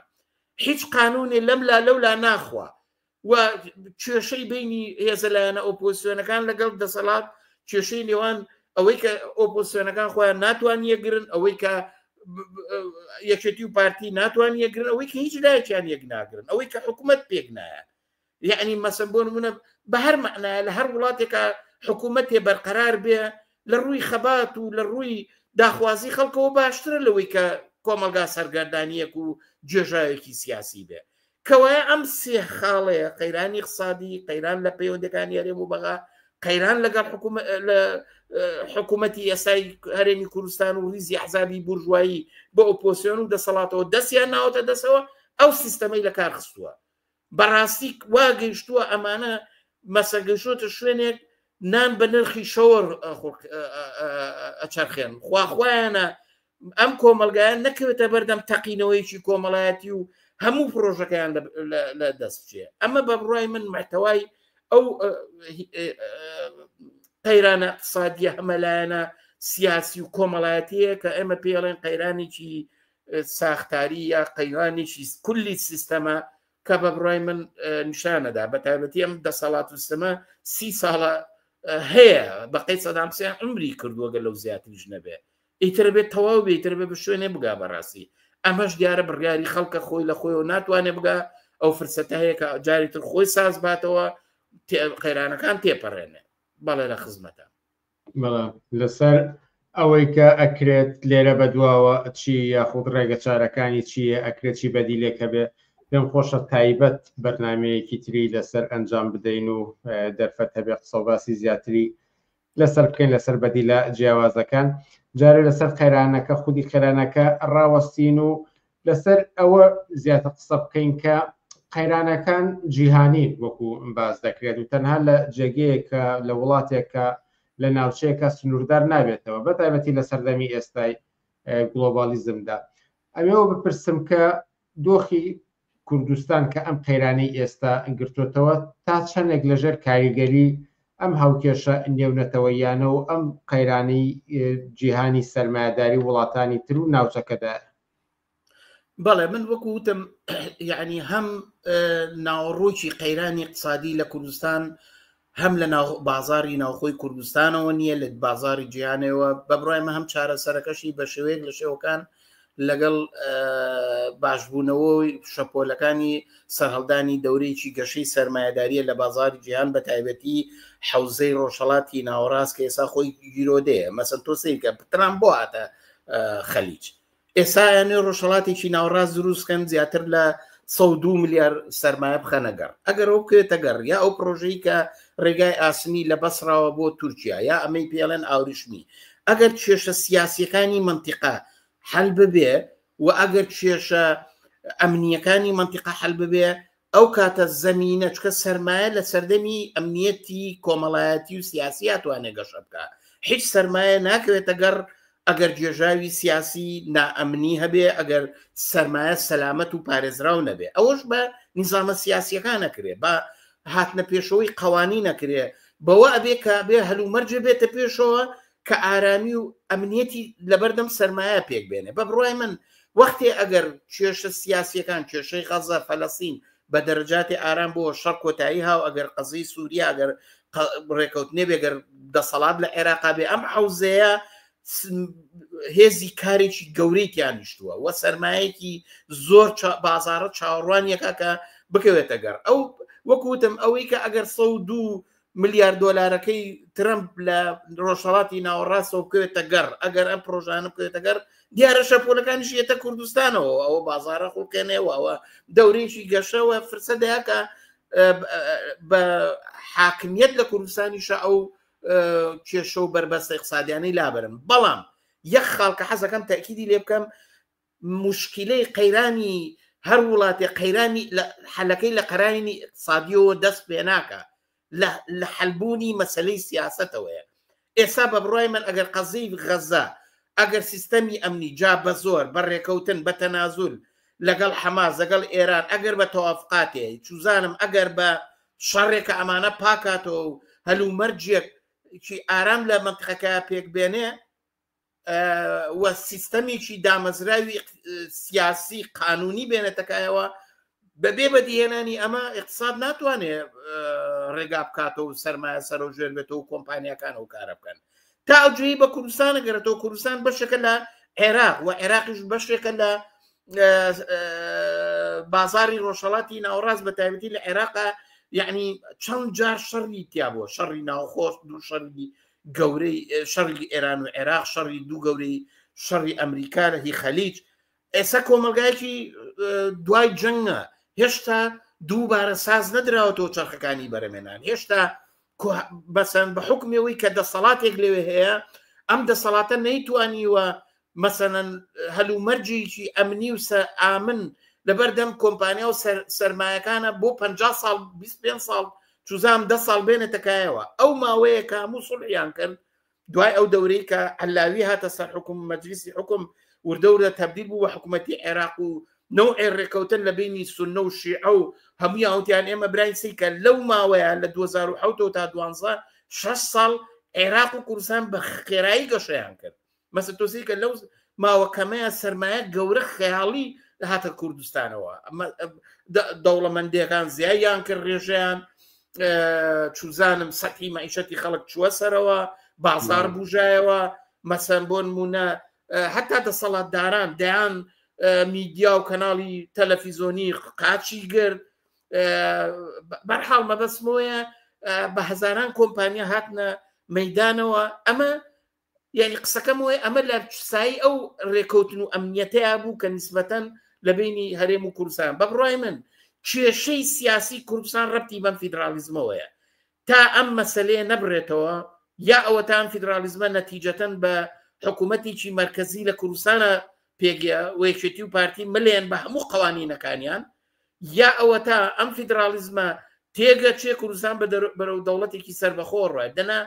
هیچ قانونێ لەم لا لەو لا ناخوا و کێشەی بینی هێزە لایەنە ئۆپۆسیۆنەکان لەگەڵ دەسەڵات کێشەی نێوان ئەوەی کە ئۆپۆسیۆنەکان خۆیان ناتوان یەگرن ئەوەی کە یەکێتی و پارتی ناتوان یەگرن ئەوەی کە هیچ لایەکیان یەک ناگرن ئەوەی کە حکوومەت پێک نایە یەعنی مەسەن بۆ نمونە بە هەر مەعنایە لە هەر وڵاتێکە حکوومەتێ بەرقەرار بێ لە ڕووی خەبات و لە ڕووی داخوازی خەڵکەوە باشترە لەوەی کە کۆمەلگا سەرگەردانیەک و جێژاوێکی سیاسی بێ کەوایە ئەم سێ خاڵەیە قەیرانی قسادی قەیران لە پەیوەندەکانی هەرێم و بەغا قەیران لەگەڵ لە حکوومەتی یاسای هەرێمی کوردستان و ریزی حزابی بورژایی بە ئۆپۆسیۆن و دەسەڵاتەوە دەستیان ناوەتە دەسەوە ئەو سیستەمەی لە کار خستووە بەڕاستی وا گەیشتووە ئەمانە مەسە گەشتوتە شوێنێک نان بە نرخی شەوەر ئەچەرخێن خواخوایانە ئەم کۆمەلگایان نەکەوێتە بەردەم تەقینەوەیکی کۆمەڵایەتی و هەموو پرۆژەکەیان لە دەست بچێ ئەمە بە بڕای من محتەوای ئەو قەیرانە اقتصادیە هەمەلایەنە سیاسی و کۆمەڵایەتەیە کە ئێمە پێڵێن قەیرانێکی ساختاری یا قەیرانێکی کولی سیستەمە کە بە بڕای من نیشانەدا بە تایبەتی ئەم دەسەڵات و سمە سی ساڵە هەیە بەقەی سەدامسیان عمری کردووەگە لەو زیاتریش نەبێ ئیتر بێت تەواو بێتتر بێ بە شوێنێ بگا بەڕاستی ئەمەش دیارە بڕیاری خەڵکە خۆی لە خۆیەوە ناتوانێ بگا ئەو فرسەتە هەیە کە جاری تر خۆی ساز باتەوە قەیرانەکان تێپەڕێنێ بەڵێ لە خزمەتە بەڵام لەسەر ئەوەی کە ئەکرێت لێرە بە دواوە چی یاخود ڕێگە چارەکانی چیە ئەکرێت چی بەدیلێک هەبێ پێم خۆشە تایبەت بەرنمەیەکی تری لەسەر ئەنجام بدەین و دەرفەت هەبێ قسە باسی زیاتری لەسەر بکەین لەسەر بەدیلە جیاوازەکان جارێ لەسەر قەیرانەکە خودی قەرانەکە ڕاوەستین و لەسەر ئەوە زیاتر قسە بکەین کە قەیرانەکان جیهانین وەکو باس دەکرێت و تەنها لە جێگەیەکە لە وڵاتێکە لە ناوچەیەکە سنووردار نابێتەوە بە تایبەتی لە سەردەمی ئێستای گلۆبالیزمدا ئەمەوە بپرسم کە دۆخی کوردستان کە ئەم قەیرانی ئێستا گرتوتەوە تا چەندێک لەژێر کاریگەری ئەم هاوکێشە نێونەتەوە یانە و ئەم قەیرانی جیهانی سەرمایهداری وڵاتانی تر و ناوچەکەدا بەڵێ من وەکو وتم یعنی هەم ناوەڕۆکی قەیرانی اقتصادی لە کوردستان هەم لە بازاری ناوخۆی کوردستانەوە نییە لە بازاری جیانەوە بە بڕایمە هەم چارەسەرەکەشی بە شێوەیەک لە شێوەکان لەگەڵ باشبوونەوەی شەپۆلەکانی سەرهەڵدانی دەورێکی گەشەی سرمایهداریە لە بازاری جیهان بە تایبەتی حوزەی ڕۆژهڵاتی ناوەڕاست کە ئێسا خۆی گیرۆدەیە مەسن تۆ سیرکە پتران بۆ هاتە خەلیج ئێسایانێ ڕۆژهڵاتێکی ناوڕاست دروستکەن زیاتر لە 102 ملیار سەرمایە بخەنەگەڕ ئەگەر ئەو بکرێتەگەڕ یا ئەو پرۆژەی کە ڕێگای ئاسنی لە بەسراوە بۆ تورکیا یا ئەمەی پێڵێن ئاوریشمی ئەگەر کێشە سیاسیەکانی منتیقا حل ببێ و ئەگەر کێشە ئەمنیەکانی منتیقا حل ببێ ئەو کاتە زەمینە چکە سەرمایە لە سەردەمی ئەمنیەتی کۆمەڵایەتی و سیاسی هاتوانێ گەشە بکە هیچ سەرمایە ناکەوێتە گەڕ ئەگەر گێژاوی سیاسی نائەمنی هەبێ ئەگەر سەرمایە سەلامەت و پارێزراو نەبێ ئەوەش بە نیزانە سیاسیەکان نەکرێ بە هاتنە پێشەوەی قوانینەکرێ بەوە ئەبێ کابێ هەلومەرجێ بێتە پێشەوە کە ئارامی و ئەمنیەتی لەبەردەم سەرمایە پێک بێنێ بە بڕای من وەختێ ئەگەر کێشە سیاسیەکان کێشەی غەزە فەلەسین بە دەرەجاتی ئارام بۆ شەڕ کۆتایی هاو ئەگەر قەزی سووریا ئەگەر ڕێکەوتنێ بێگەر دەسەڵات لە عێراقا بێ ئەم حوزەیە هێزی کارێکی گەورەی تیانیشتووە وە سەرمایەکی زۆر بازارە چاوەڕوانیەکە کە بکەوێتە گەڕ ئەو وەکوتم ئەوەی کە ئەگەر سە دوو ملیار دۆلارەکەی ترمپ لە ڕۆژهڵاتی ناوەڕاستەوە بکەوێتە گەڕ ئەگەر ئەم پرۆژانە بکەوێتە گەر دیارە شەپۆلەکانیش یەتە کوردستانەوە ئەوە بازارە خوڵکێنێەوە ئەوە دەورێکی گەشەوە فرسە دەیاکە بە حاکمیت لە کوردستانیشە ئەو کێشە و بەربەستە اقتصادیانەی لابرن بەڵام یەک خاڵکە حەزەکەم تاکیدی لێ بکەم موشکیلەی قەیرانی هەر وڵاتێ قەیرانی حەلەکەی لە قەرانی ئقتصادیەوە دەست پێ ناکە لە حەلبوونی مەسلەی سیاستەوەیە ئێستا بە بڕای من ئەگەر قەزی غەزە ئەگەر سیستەمی ئەمنی جا بە زۆر بە ڕێکەوتن بە تەنازول لەگەڵ حەماس لەگەڵ ئێران ئەگەر بە تەوافقاتێ چوزانم ئەگەر بە شەڕێکە ئەمانە پاکاتەوە و هەلومەرجێک چی ئارام لە منتقەکە پێک بێنێ و سیستەمێکی دامەزراوی سیاسی قانونی بێنێتەکایەوە بەبێ بەدیهێنانی ئەمە اقتصاد ناتوانێ ڕێگا بکاتەوە و سەرمایە سەرۆ ژێر بێتەوە و کۆمپانیەکان و کارە بکەن تا ئەوجوی بە کوردستانە گەرێتەوە کوردستان بەشەکە لە عێراق و عێراقیش بەشێکە لە بازاری ڕۆژهڵاتی ناوەڕاست بە تایبەتی لە عێراقا یعنی چەند جار شەڕی تیا بووە شەڕی ناوخۆش دوو شەڕی گەورەی شەڕی ئێران و عێراق شەڕی دوو گەورەی شەڕی ئەمریکا لە هی خەلیج ئێستا کۆمەلگایکی دوای جەنگە هێشتا دووبارە ساز نەدراوەتەوە چرخەکانی بەرەمێنان هێشتا بەسەن بە حکمەوەی کە دەسەڵاتێک لەوێ هەیە ئەم دەسەڵاتە نەیتوانیوە مەسەنەن هەلومەرجێکی ئەمنی و سە ئامن لەبەردەم کۆمپانیا و سەرمایەکانە بۆ پ ساڵ 25 ساڵ چزام ده ساڵ بێنێتەکایەوە ئەو ماوەیە کە هەموو سڵحیان کرد دوای ئەو دەورەی کە ئەلاوی هاتە سەر حکوم مەجلیسی حکوم وردەورە تەبدیل بوو بە حکوومەتتی عێراق و نەوعێ ڕێکەوتن لە بینی سنە و شیعە و هەموو هاوتیان ئێمە براین سی کە لەو ماوەیە لە 2010 تا دوانزە شش ساڵ عێراق و کوردستان بە خێرایی گەشەیان کرد مەسە تۆسی کە لەو ماوە کەمەیە سرمایە گەورە خەیاڵی هاتە کوردستانەوە دەوڵەمەندەکان زیایان کرد ڕێژیان چوزانم سەحی مەعیشەتی خەڵک چووە سەرەوە بازار بژایەوە مەسەن بۆن مونە هەتا دەسەڵاتداران دەیان میدیا و کەناڵی تەلەفیزۆنی قاچی گرت بەرحاڵ مەبەسمۆیە بە هەزاران کۆمپانیا هاتنە مەدانەوە ئەمە یعنی قسەکەم وێ ئەمە لە سایی ئەو ڕێکەوتن و ئەمنیەتەیە بوو کە نسبەتەن لە بینی هەرێم و کوردستان بە بڕای من کێشەی سیاسی کوردستان ڕەتی بەم فیدراالیزمەوەیە تا ئەم مەسلەیە نەبرێتەوە یا ئەوەتان فیدراالیزمە نەتیجەتەن بە حکوومەتێکی مرکزی لە کوردستانە پێگە وەیەکێتی و پارتی ملێن بە هەموو قوانینەکانیان یا ئەوە تا ئەم فیدراالیزمە تێگە چێ کوردستان بەرەو دەوڵەتێکی سربەخۆڕە دەنا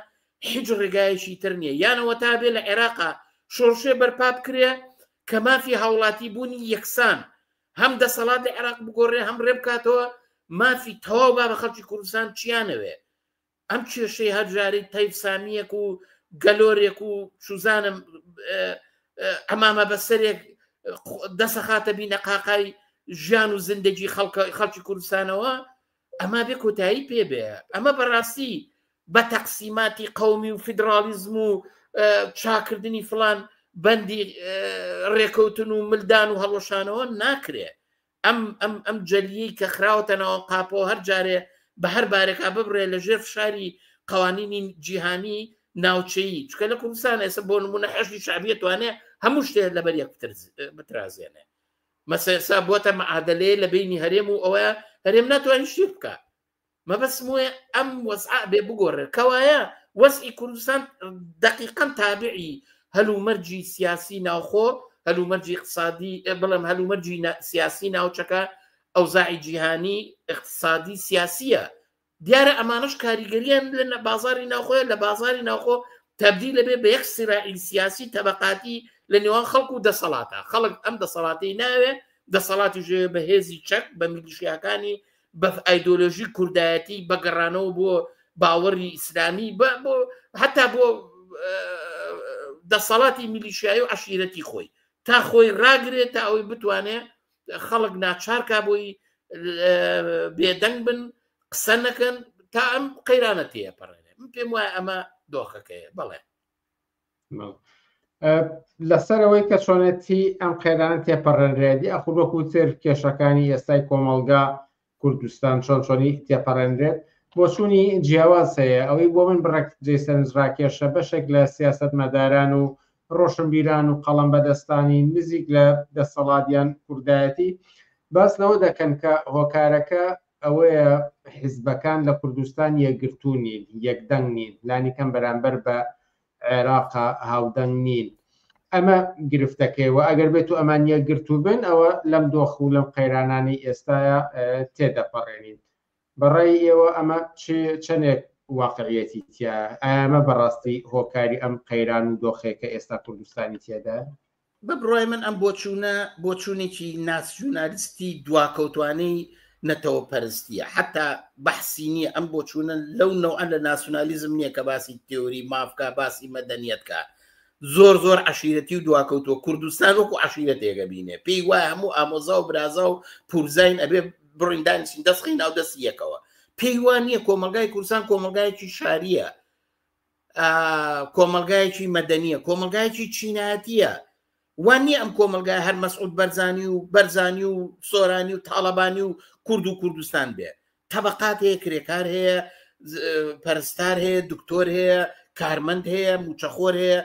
هیچ ڕێگایەکی تر نییە یانەوە تا بێ لە عێراقا شۆڕشێ بەرپا بکرێ کە مافی هاوڵاتی بوونی یەکسان هەم دەسەڵات لە عێراق بگۆڕێ هەم ڕێ بکاتەوە مافی تەواو با بە خەڵکی کوردستان چیانەوێ ئەم کێشەی هەرجاری تەیف سامیەک و گەلۆرێک و سوزانم ئەمامە بەسەرێک دەسەخاتە بینە قاقای ژیان و زندگی خەڵکی کوردستانەوە ئەمە بێ کۆتایی پێ بێ ئەمە بەڕاستی بە تەقسیماتی قومی و فیدراالیزم و چاکردنی فلان بەندی ڕێکەوتن و ملدان و هەڵۆشانەوە ناکرێ ئەم ئەم ئەم جەلیی کە خراوەتەنەوە قاپەوە هەر جارێ بە هەر بارێکا ببرێ لە ژێر فشاری قوانینی جیهانی ناوچەیی چکە لە کوردستان ئێستا بۆ نمونە حەشی شعبیە توانێ هەموو شتێ لەبەر یەک بترازێنێ مەسەسا بوەتە مەعادەلەیە لە بەینی هەرێم و ئەوە هەرێم ناتوانین شتی بکە مەبەسم وێ ئەم وەزع بێ بگۆڕێت کەوایە وەزئی کوردستان دقیقا تابعی هەلومەرجی سیاسی ناوخۆ هەلومەرجی اقتصادی بڵم هەلومەرجی سیاسی ناوچەکە ئەوزاعی جیهانی اقتصادی سیاسیە دیارە ئەمانەش کاریگەریان لە بازاری ناوخۆیان لە بازاری ناوخۆ تبدیل لەبێ بە یەک سرائیل سیاسی تەبقاتی لە نێوان خەڵکو و دەسەڵاتە خەڵک ئەم دەسەڵاتی ناوێ دەسەڵاتی ژێ بە هێزی چەک بە میلیشیاکانی بە ئایدۆلۆژی کوردایەتی بەگەڕانەوە بۆ باوەڕی ئیسلامی بە بۆ هەتا بۆ دەسەڵاتی میلیشایی و عشیرەتی خۆی تا خۆی ڕاگرێت تا ئەوەی بتوانێت خەڵک ناچارکە بۆی بێدەنگ بن قسە نەکەن تا ئەم قەیرانە تێپەڕێنێ من پێم وایە ئەمە دۆخەکەیە بەڵێ لەسەرەوەی کە چۆنێتی ئەم قەیران تێپەڕێنرێتی ئەخوبەکوتر کێشەکانی ئێستای کۆمەلگا کوردستان چۆن چۆنی تێپەڕێنرێت بۆچوونی جیاواز هەیە، ئەوەی بۆ من بڕێک جێی سەرنجڕاکێشە بەشێک لە سیاسەتمەداران و ڕۆشنبیران و قەڵەم بەدەستانی نزیک لە دەسەڵات یان کوردایەتی باس لەوە دەکەن کە هۆکارەکە ئەوەیە حیزبەکان لە کوردستان یەکگرتوو نین، یەکدەنگ نین لانیکەم بەرامبەر بە عێراقە هاودەنگ نین ئەمە گرفتەکەی و ئەگەر بێت و ئەمان یە گرتو بن ئەوە لەم دۆخ و لەم قەیرانانی ئێستاە تێدەپەڕێنین بەڕای ئێوە ئەمە چەندێک واقعەتی تیا ئەمە بەڕاستی هۆکاری ئەم قەیران و دۆخێکە ئێستا کوردستانی تێدا بە بڕای من ئەم بۆچوونە بۆچوونێکی ناسیونالیستی دواکەوتوانەی نەتەوە پەرستیە حتا بەحسی نییە ئەم بۆچوونە لەو نەوە لە ناسیونالیزم نییە کە باسی تێوری مافکە باسی مەدەنیەتکە زۆر زۆر عشیرەتی و دواکەوتوە کوردستان وەکو عشیرە تێگە بینێ پێی وایە هەموو ئامۆزا و برازا و پورزین ئەبێ بڕیندانسین دەستخی ناو دەستی یەکەوە پێی وان نییە کۆمەلگای کوردستان کۆمەلگایکی شاریە کۆمەلگایەکی مەدەنیە کۆمەلگایەکی چینایەتە وان نیە ئەم کۆمەلگای هەر مەسعود بەرزانی و بەرزانی و سۆرانی و تاالبانی و کورد و کوردستان بێ تەبقات هەیە کرێکار هەیە پەرستار هەیە دکتۆر هەیە کارمەند هەیە موچەخۆر هەیە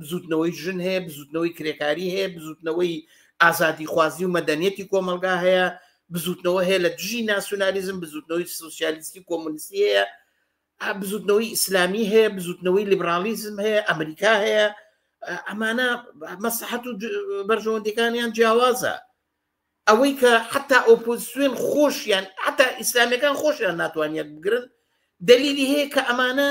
بزوتنەوەی ژن هەیە بزوتنەوەی کرێکاری هەیە بزوتنەوەی ئازادی خوازی و مەدەنیەتی کۆمەلگا هەیە بزوتنەوە هەیە لە دژی ناسیۆنالیزم بزوتنەوەی سوسیالیستی کۆمونیستی هەیە بزوتنەوەی ئیسلامی هەیە بزوتنەوەی لیبرالیزم هەیە ئەمریکا هەیە ئەمانە مەسەحەت و بەرژەوەندەکانیان جیاوازە ئەوەی کە حتا ئۆپۆزیسیۆن خۆشیان حتا ئیسلامەکان خۆشیان ناتوانیت بگرن دلیلی هەیە کە ئەمانە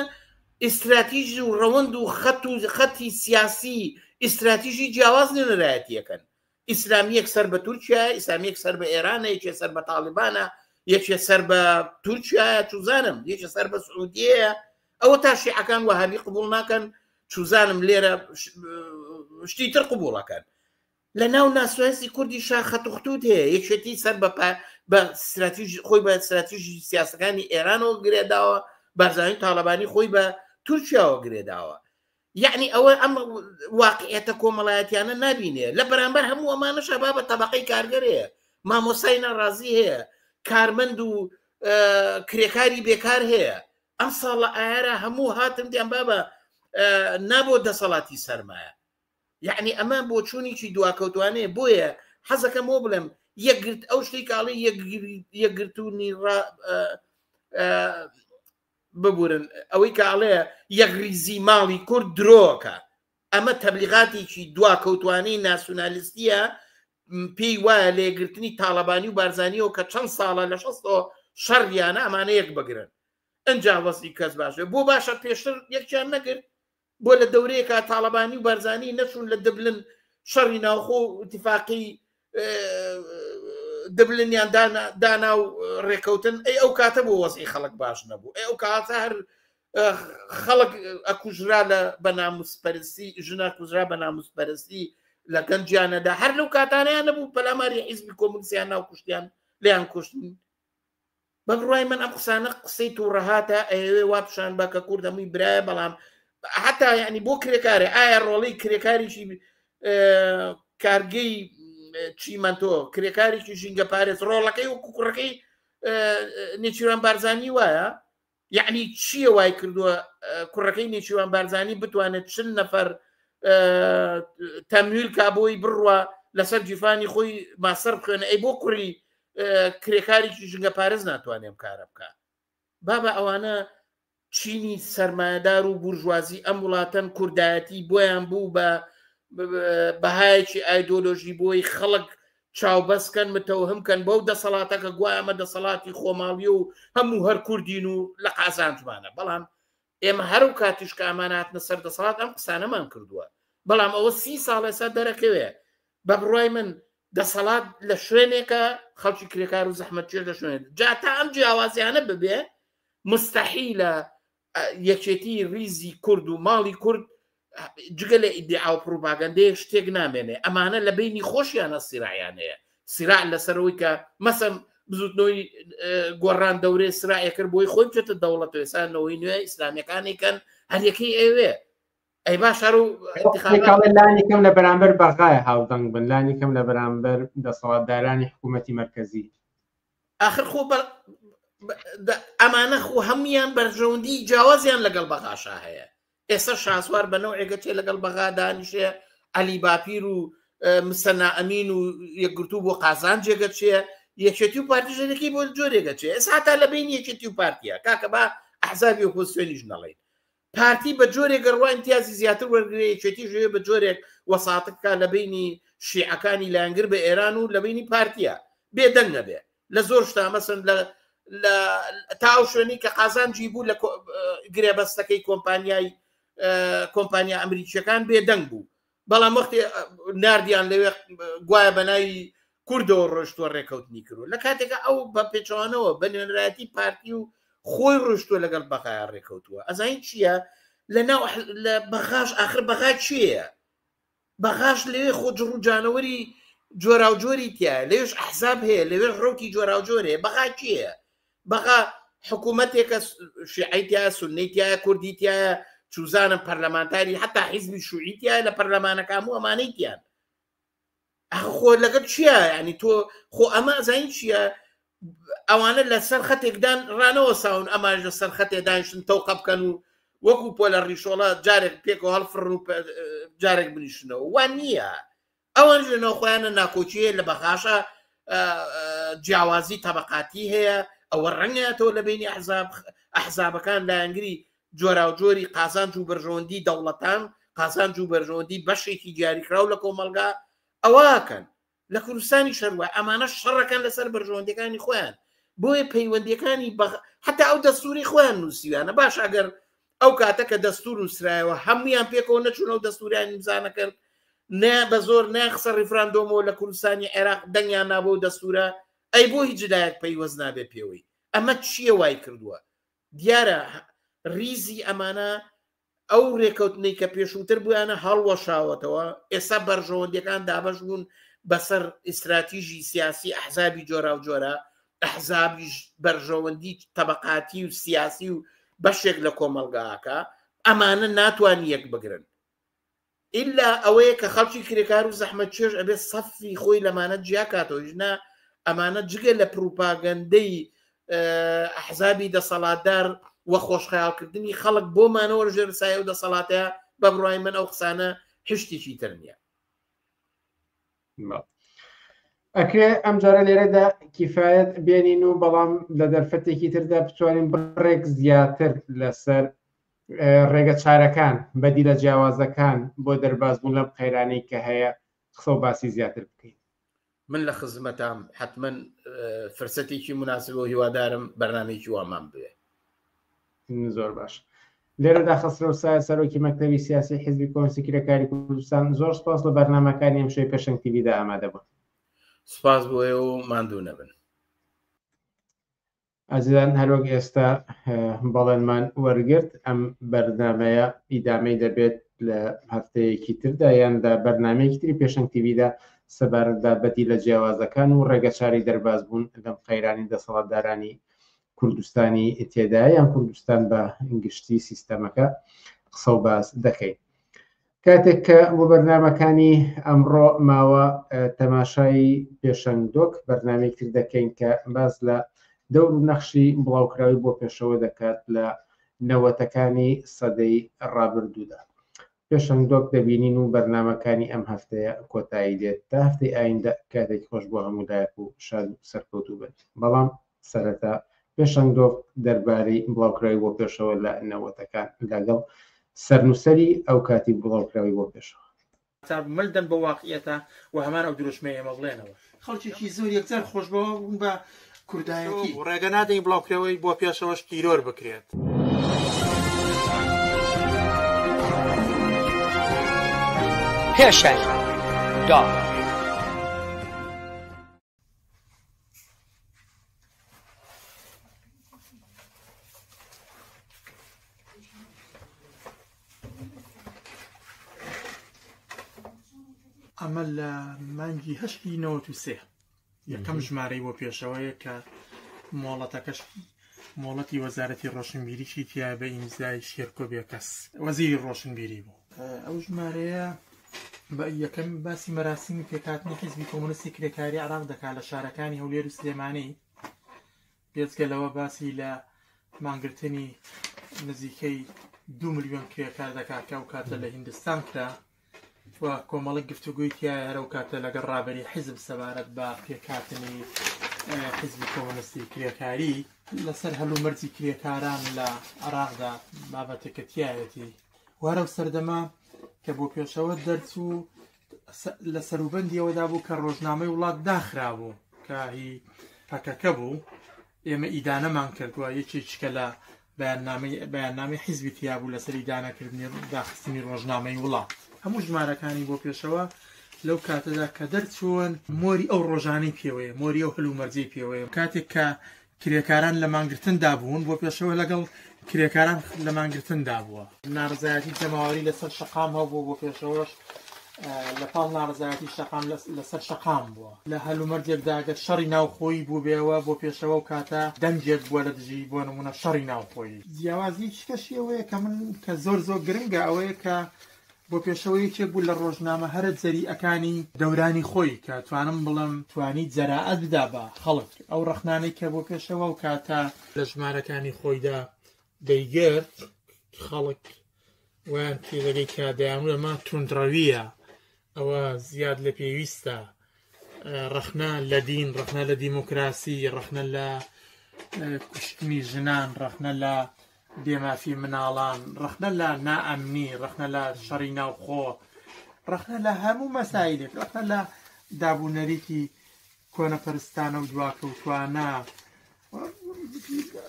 ئیستراتیژی و ڕەوەند و خەت و خەتی سیاسی ئیستراتیژی جیاواز نوێنەرایەتیەکەن ئیسلامیەک سەر بە تورکیایە ئیسلامیەک سەر بە ئێرانە یەکێ سەر بە تاالبانە یەکێ سەر بە تورکیایە چوزانم یەکێ سەر بە سعودیەیە ئەوە تا شیعەکان وەهابی قبول ناکەن چوزانم لێرە شتی تر قبولەکەن لە ناو ناسوێنسی کوردی شاخەت و خطوت هەیە یەکێتی سەر بە بە استراتیژ خۆی بە استراتیژی سیاسەکانی ئێرانەوە گرێداوە بارزانانی تاالبانی خۆی بە تورکیاوە گرێداوە یعنی ئەوە ئەم واقعێتە کۆمەڵایەتیانە نبینێ لە بەرامبەر هەموو ئەمانە شەبا بە تەبقەی کارگەرەیە مامۆسای ناڕازی هەیە کارمەند و کرێکاری بێکار هەیە ئەم ساڵە ئارا هەموو هاتن دیان بابە نابۆ دەسەڵاتی سەرمایە یعنی ئەمە بۆ چوونیی دواکەوتوانەیە بۆیە حەزەکەم بۆ بڵێم یەکگرت ئەو شتی کاڵی یەکگرتوونی ببورن ئەوەی کە ئەڵێ یەکڕیزی ماڵی کورد درۆکە ئەمە تەبلیغاتێکی دوا کەوتوانەی ناسیونالیستیە پێی وایە لێگرتنی تاالبانی و بارزانانیەوە کە چەند ساڵە لە شەستەوە شەڕیانە ئەمانە یەک بگرن ئەجا وەزی کەس باشە بۆ باشە پێشتر یەکیان نەگرت بۆ لە دەورەیەکا تاڵەبانی و بارزانی نەچوون لە دبلن شەڕی ناوخۆ و اتفاقی دبلنیان دانا و ڕێکەوتن ئەی ئەو کاتە بۆ وەزی خەڵک باش نەبوو ئەی ئەو کاتە هەر خەڵک ئەکوژرا لە بە ناموسپەرستی ژنا کوژرا بە ناموسپەرستی لە گەنجیانەدا هەر لەو کاتانیان نەبوو پەلاماری حیزبی کۆمنسیان ناو کوشتیان لیان کوشتن بە بڕوای من ئەم قسانە قسەی تووڕەهاتە ئەیەوێ وا پیشان بە کە کورد هەمووی برایە بەڵام حتا ینی بۆ کرێکارێ ئایا ڕۆڵی کرێکاریی کارگەی چیمەندۆ کرێکاریی ژینگە پارێز ڕۆڵەکەی و کوکوڕەکەی نێچیران بارزانانی وایە یعنی چییە وای کردووە کوڕەکەی نێچیوان بارزانانی بتوانێت چل نەفەر تەمویل کا بۆی بڕوە لەسەر جیفانی خۆی ماسەر بخوێنە ئەی بۆ کوڕی کرێکاریی ژنگە پارێز ناتوانێ ئەم کارە بکە بابە ئەوانە چینی سەرمایهدار و بورژوازی ئەم وڵاتەن کوردایەتی بۆیان بوو بە بەهایەکی ئایدۆلۆژی بۆی خەڵک چاوبەستکەن متەوهم کەن بەو دەسەڵاتەکە گوایەمە دەسەڵاتی خۆماڵی و هەموو هەر کوردین و لە قازانجمانە بەڵام ئێمە هەر و کاتیش کە ئەمان هاتنە سەر دەسەڵات ئەم قسانەمان کردووە بەڵام ئەوە سی ساڵ ئێستا دەرەکەوێ بە بڕای من دەسەڵات لە شوێنێکە خەڵکی کرێکار و زەحمەتچێ لە شوێن جا تا ئەم جیاوازیانە ببێ مستحیلە یەکێتی ریزی کورد و ماڵی کورد جگە لە ئیدعا و پروپاگەندەیە شتێک نامێنێ ئەمانە لە بینی خۆشیانە سیرایان هەیە سیرا لەسەرەوەی کە مەسم بزوتنەوەی گۆڕان دەورێ سرائەکرد بۆی خۆی بچێتە دەوڵەت وێسانەوەی نوێ ئیسلامیەکانی کەن هەریەکەی ئەوێ ئەی با شار و لانی کەم لە بەرامبەر بەغای هاودەنگ بن لانی کەم لە بەرامبەر دەسەڵاتدارانی حکوومەتی مرکزی آخر خۆ ئەمانە خۆ هەموان بەرژەوەندی جیاوازیان لەگەڵ بەغاشا هەیە ئێستا شاسوار بە نەوعێک ئەچێ لەگەڵ بەغا دانیشێ، عەلی باپیر و مسەنا ئەمین و یەکگرتوو بۆ قازان جێگە چێ، یەکێتی و پارتی ژێنەکەی بۆ جۆرێگە چێ، ئێستا هەتا لە بین یەکێتی و پارتیە، کاکە با ئەحزابی ئۆپۆزسیۆنیش نەڵێین. پارتی بە جۆرێک گەڕوا ئیمتیازی زیاتر وەرگرێ، یەکێتیش هەیە بە جۆرێک وەساطە بکا لە بینی شیعەکانی لایەنگر بە ئێران و لە بینی پارتیە، بێدەنگ نەبێ. لە زۆر شتا مەسن لە لە تا ئەو شوێنی کە قازانجی بوو لە گرێبەستەکەی کۆمپانیای کۆمپانیا ئەمریکیەکان بێدەنگ بوو بەڵام وەختی نردیان لەوێ گوایە بەناوی کوردەوە ڕۆشتوە ڕێکەوتنی کرد لە کاتێکە ئەو بە پێچوانەوە بە نوێنراتی پارتی و خۆی ڕۆشتوە لەگەڵ بەغای ڕێکەوتووە ئەزین چییە لە ناو لە بەغاش آخر بەغا چیە بەغاش لەوێ خۆ جڕ و جانەوەری جۆراوجۆری تایە لەوێش ئەحزاب هەیە لەوێش ڕوتی جۆراوجۆر هەیە بەغا کی هەیە بەغا حکوومەتێکە شعیتیا سنیتیا کوردیتیا چوزانم پەرلەمانتاری حتا حیزبی شوعیتیا لە پەرلەمانەکان و ئەمانەیتیان خۆ لەگەت چییە ینی تۆ خۆ ئەمە زین چییە ئەوانە لە سەر خەتێکدان ڕانەوە ساون ئەماش لە سەر خەتێ دانیشتن تەوقە بکەن و وەکو پۆ لە ڕیشۆڵە جارێک پێکەوە هەڵفڕ و جارێک بنیشنەوە وا نییە ئەوان لە ناوخۆیانە ناکۆکیە لە بەغاشە جیاوازی تەبقاتی هەیە ئەوە ڕەنگاتەوە لە بینی ئەحزاب ئەحزابەکان لایەنگری جۆراوجۆری قازانج و بەرژەوەندی دەوڵەتان قازانج و بەرژەوەندی بەشێکی دیاریکراو لە کۆمەلگا ئەوەکەن لە کوردستانیش هەروە ئەمانە شەڕەکان لەسەر بەرژەوەندەکانی خۆیان بۆیە پەیوەندەکانی بە حتا ئەو دەستوری خۆیان نووسیویانە باش ئەگەر ئەو کاتە کە دەستور نووسرایەوە هەمویان پێکەوە نەچوون ئەو دەستوریان نیمزانە کرد نە بە زۆر ناخسە ڕیفراندۆمەوە لە کوردستانی عێراق دەنگیان نابۆ دەستورە ئەی بۆ هیچ لایەک پەیوەست نابێ پێوەی ئەمە چییە وای کردووە دیارە ریزی ئەمانە ئەو رێکەوتنەی کە پێشووتر بوویانە هەڵوەشاوەتەوە ئێستا بەرژەوەندیەکان دابەش بوون بەسەر ئیسراتیژی سیاسی ئەحزابی جۆرا و جۆرە ئەحزابیش بەرژەوەندی تەبقاتی و سیاسی و بەشێک لە کۆمەلگاکە ئەمانە ناتوان یەک بگرن ئیلا ئەوەیە کە خەڵکی کرێکار و زەحمەتکێش ئەبێت سەفی خۆی لەمانە جیا کاتەوە ئیژنە ئەمانە جگە لە پروپاگەندەی ئەحزابی دەسەڵاتدار و خۆشخەیاڵکردنی خەڵک بۆ مانەوە ژێر سایە و دەسەڵاتەیە بە بڕای من ئەو قسانە هشتێکی تر نییە ئەکرێ ئەم جارە لێرەدا کیفاەت بێنین و بەڵام لە دەرفەتێکی تردا بتوانین بڕێک زیاتر لەسەر ڕێگە چارەکان بەدی لە جیاوازەکان بۆ دەربازبوون لەم قەیرانەی کە هەیە قسە و باسی زیاتر بکەین من لە خزمەتام حتمما فرسەتێکی مناسب و هیوادارم بەرنمێکی وامان بوێ زۆر باش لێرەدا خەسرەو سایە سەرۆکی مەکتەبی سیاسی حزبی کۆنسی کرێکاری کوردستان زۆر سپاس لە بەرنمەکانی ئەم شوی پێشنگ تیویدا ئامادە بوون سپاس بۆ ئێوە و ماندوو نەبن ئازیزان هەروەک ئێستا بەڵێنمان وەرگرت ئەم بەرنمەیە ئیدامەی دەبێت لە هەفتەیەکی تردا یاندا بەرنمەیەکی تری پێشنگ تیویدا سەبارەتدا بەدی لە جیاوازەکان و ڕێگەچاری دەرباز بوون لەم قەیرانی دەسەڵاتدارانی کوردستانی تێدایە یان کوردستان بە گشتی سیستەمەکە قسە و باس دەکەیت کاتێک کە بۆ بەرنمەکانی ئەمڕۆ ماوە تەماشای پێشەنگدۆک بەرنامی کرد دەکەین کە باز لە دەور و نەخشی بڵاوکراوی بۆ پێشەوە دەکات لە نەوەتەکانی سەدەی ڕابردوودا پێشەنگ دۆک دەبینین و بەرنامەکانی ئەم هەفتەیە کۆتایی دێت تا هەفتەی ئایندە کاتێکی خۆش بۆ هەموو لایەک و شاد و سەرکەوتوو بن بەڵام سەرەتا پێشەنگ دۆک دەربارەی بڵاوکراوی بۆ پێشەوە لە نەوەتەکان لەگەڵ سەرنووسەری ئەو کاتی بڵاوکراوی بۆ پێشەوە. تا مل دەن بە واقیعەتا و هەمان ئەو دروشمەی ئێمە بڵێنەوە. خەڵکێکی زۆر یەکجار خۆشبەوە بوون بە کوردایەتی و ڕێگە نادەین بڵاوکرەوەی بۆ پێشەوەش تیرۆر بکرێت. پێشەر دا. ئەمە لە مانگی هەشتی نەوەت و سێ یەکەم ژمارەی بۆ پێشەوەیە کە مۆڵەتەکەش مۆڵەتی وەزارەتی ڕۆشنبیریی تیا بە ئیمزای شێرکۆ بێکەس وەزیری ڕۆشنبیری بوو ئەو ژمارەیە بە یەکەم باسی مەراسیمی پێکاتنی حیزبی کۆمونستی کرێکاری عراق دەکات لە شارەکانی هەولێر و سلێمانی بێجگە لەوە باسی لە مانگرتنی نزیکەی دوو ملیۆن کرێکار دەکات کە ئەو کاتە لە هیندستان کرا و کۆمەڵک گفتوگوی تایە هەر ئەو کاتە لەگەڵ ڕابری حیزب سەبارەت بە پێکاتنی حزبی کۆمەنستی کرێکاری لەسەر هەلو مەرجی کرێکاران لە عراقدا بابەتەکەتیایەتی وارە و سەردەما کە بۆ پێشەوە دەرچوو لە سەروبەندی ئەوەدا بوو کە ڕۆژنامەی وڵات داخرابوو کە هی پەکەکە بوو ئێمە ئیدانەمان کردووە یەکێککە لە بەیاننامی بەیاننامی حیزبی تیابوو لەسەر ئیدانەکردنی داخستنی ڕۆژنامەی وڵات هەموو ژمارەکانی بۆ پێشەوە لەو کاتەدا کە دەرچوون مۆری ئەو ڕۆژانەی پێوەیە مۆری ئەو هەلومەرجەی پێوەیە کاتێک کە کرێکاران لە مانگرتندا بوون بۆ پێشەوە لەگەڵ کرێکاران لە مانگرتندا بووە نارزایەتی جەماوەری لەسەر شقام هەبوو بۆ پێشەوەش لە پاڵ نارزایەتی شقام لەسەر شقام بووە لە هەلومەرجێکداگە شەڕی ناوخۆی بووبێەوە بۆ پێشەوە و کاتە دەنجێک بووە لە دژی بۆ نمونە شەڕی ناوخۆی جیاوازی شکەشیەوەیە کە من کە زۆر زۆر گرنگە ئەوەیە کە بۆ پێشەوە یەکێک بوو لە ڕۆژنامە هەرە جەریئەکانی دەورانی خۆی کە توانم بڵێم توانی جەراعەت بدا بە خەڵک ئەو ڕەخنانەی کە بۆ پێشەوە ئەو کاتە لە ژمارەکانی خۆیدا دەیگرت خەڵک وایان پێ دەگەی کە دەیانوت ئەمە توندڕەوییە ئەوە زیاد لە پێویستە ڕەخنە لە دین ڕەخنە لە دیموکراسی ڕەخنە لە کوشتنی ژنان ڕەخنە لە بێمافی مناڵان ڕەخنە لە نائەمنی ڕەخنە لە شەڕی ناوخۆ ڕەخنە لە هەموو مەسایلێک ڕەخنە لە دابوونەریکی کۆنەپەرستانە و دواکەوتوانە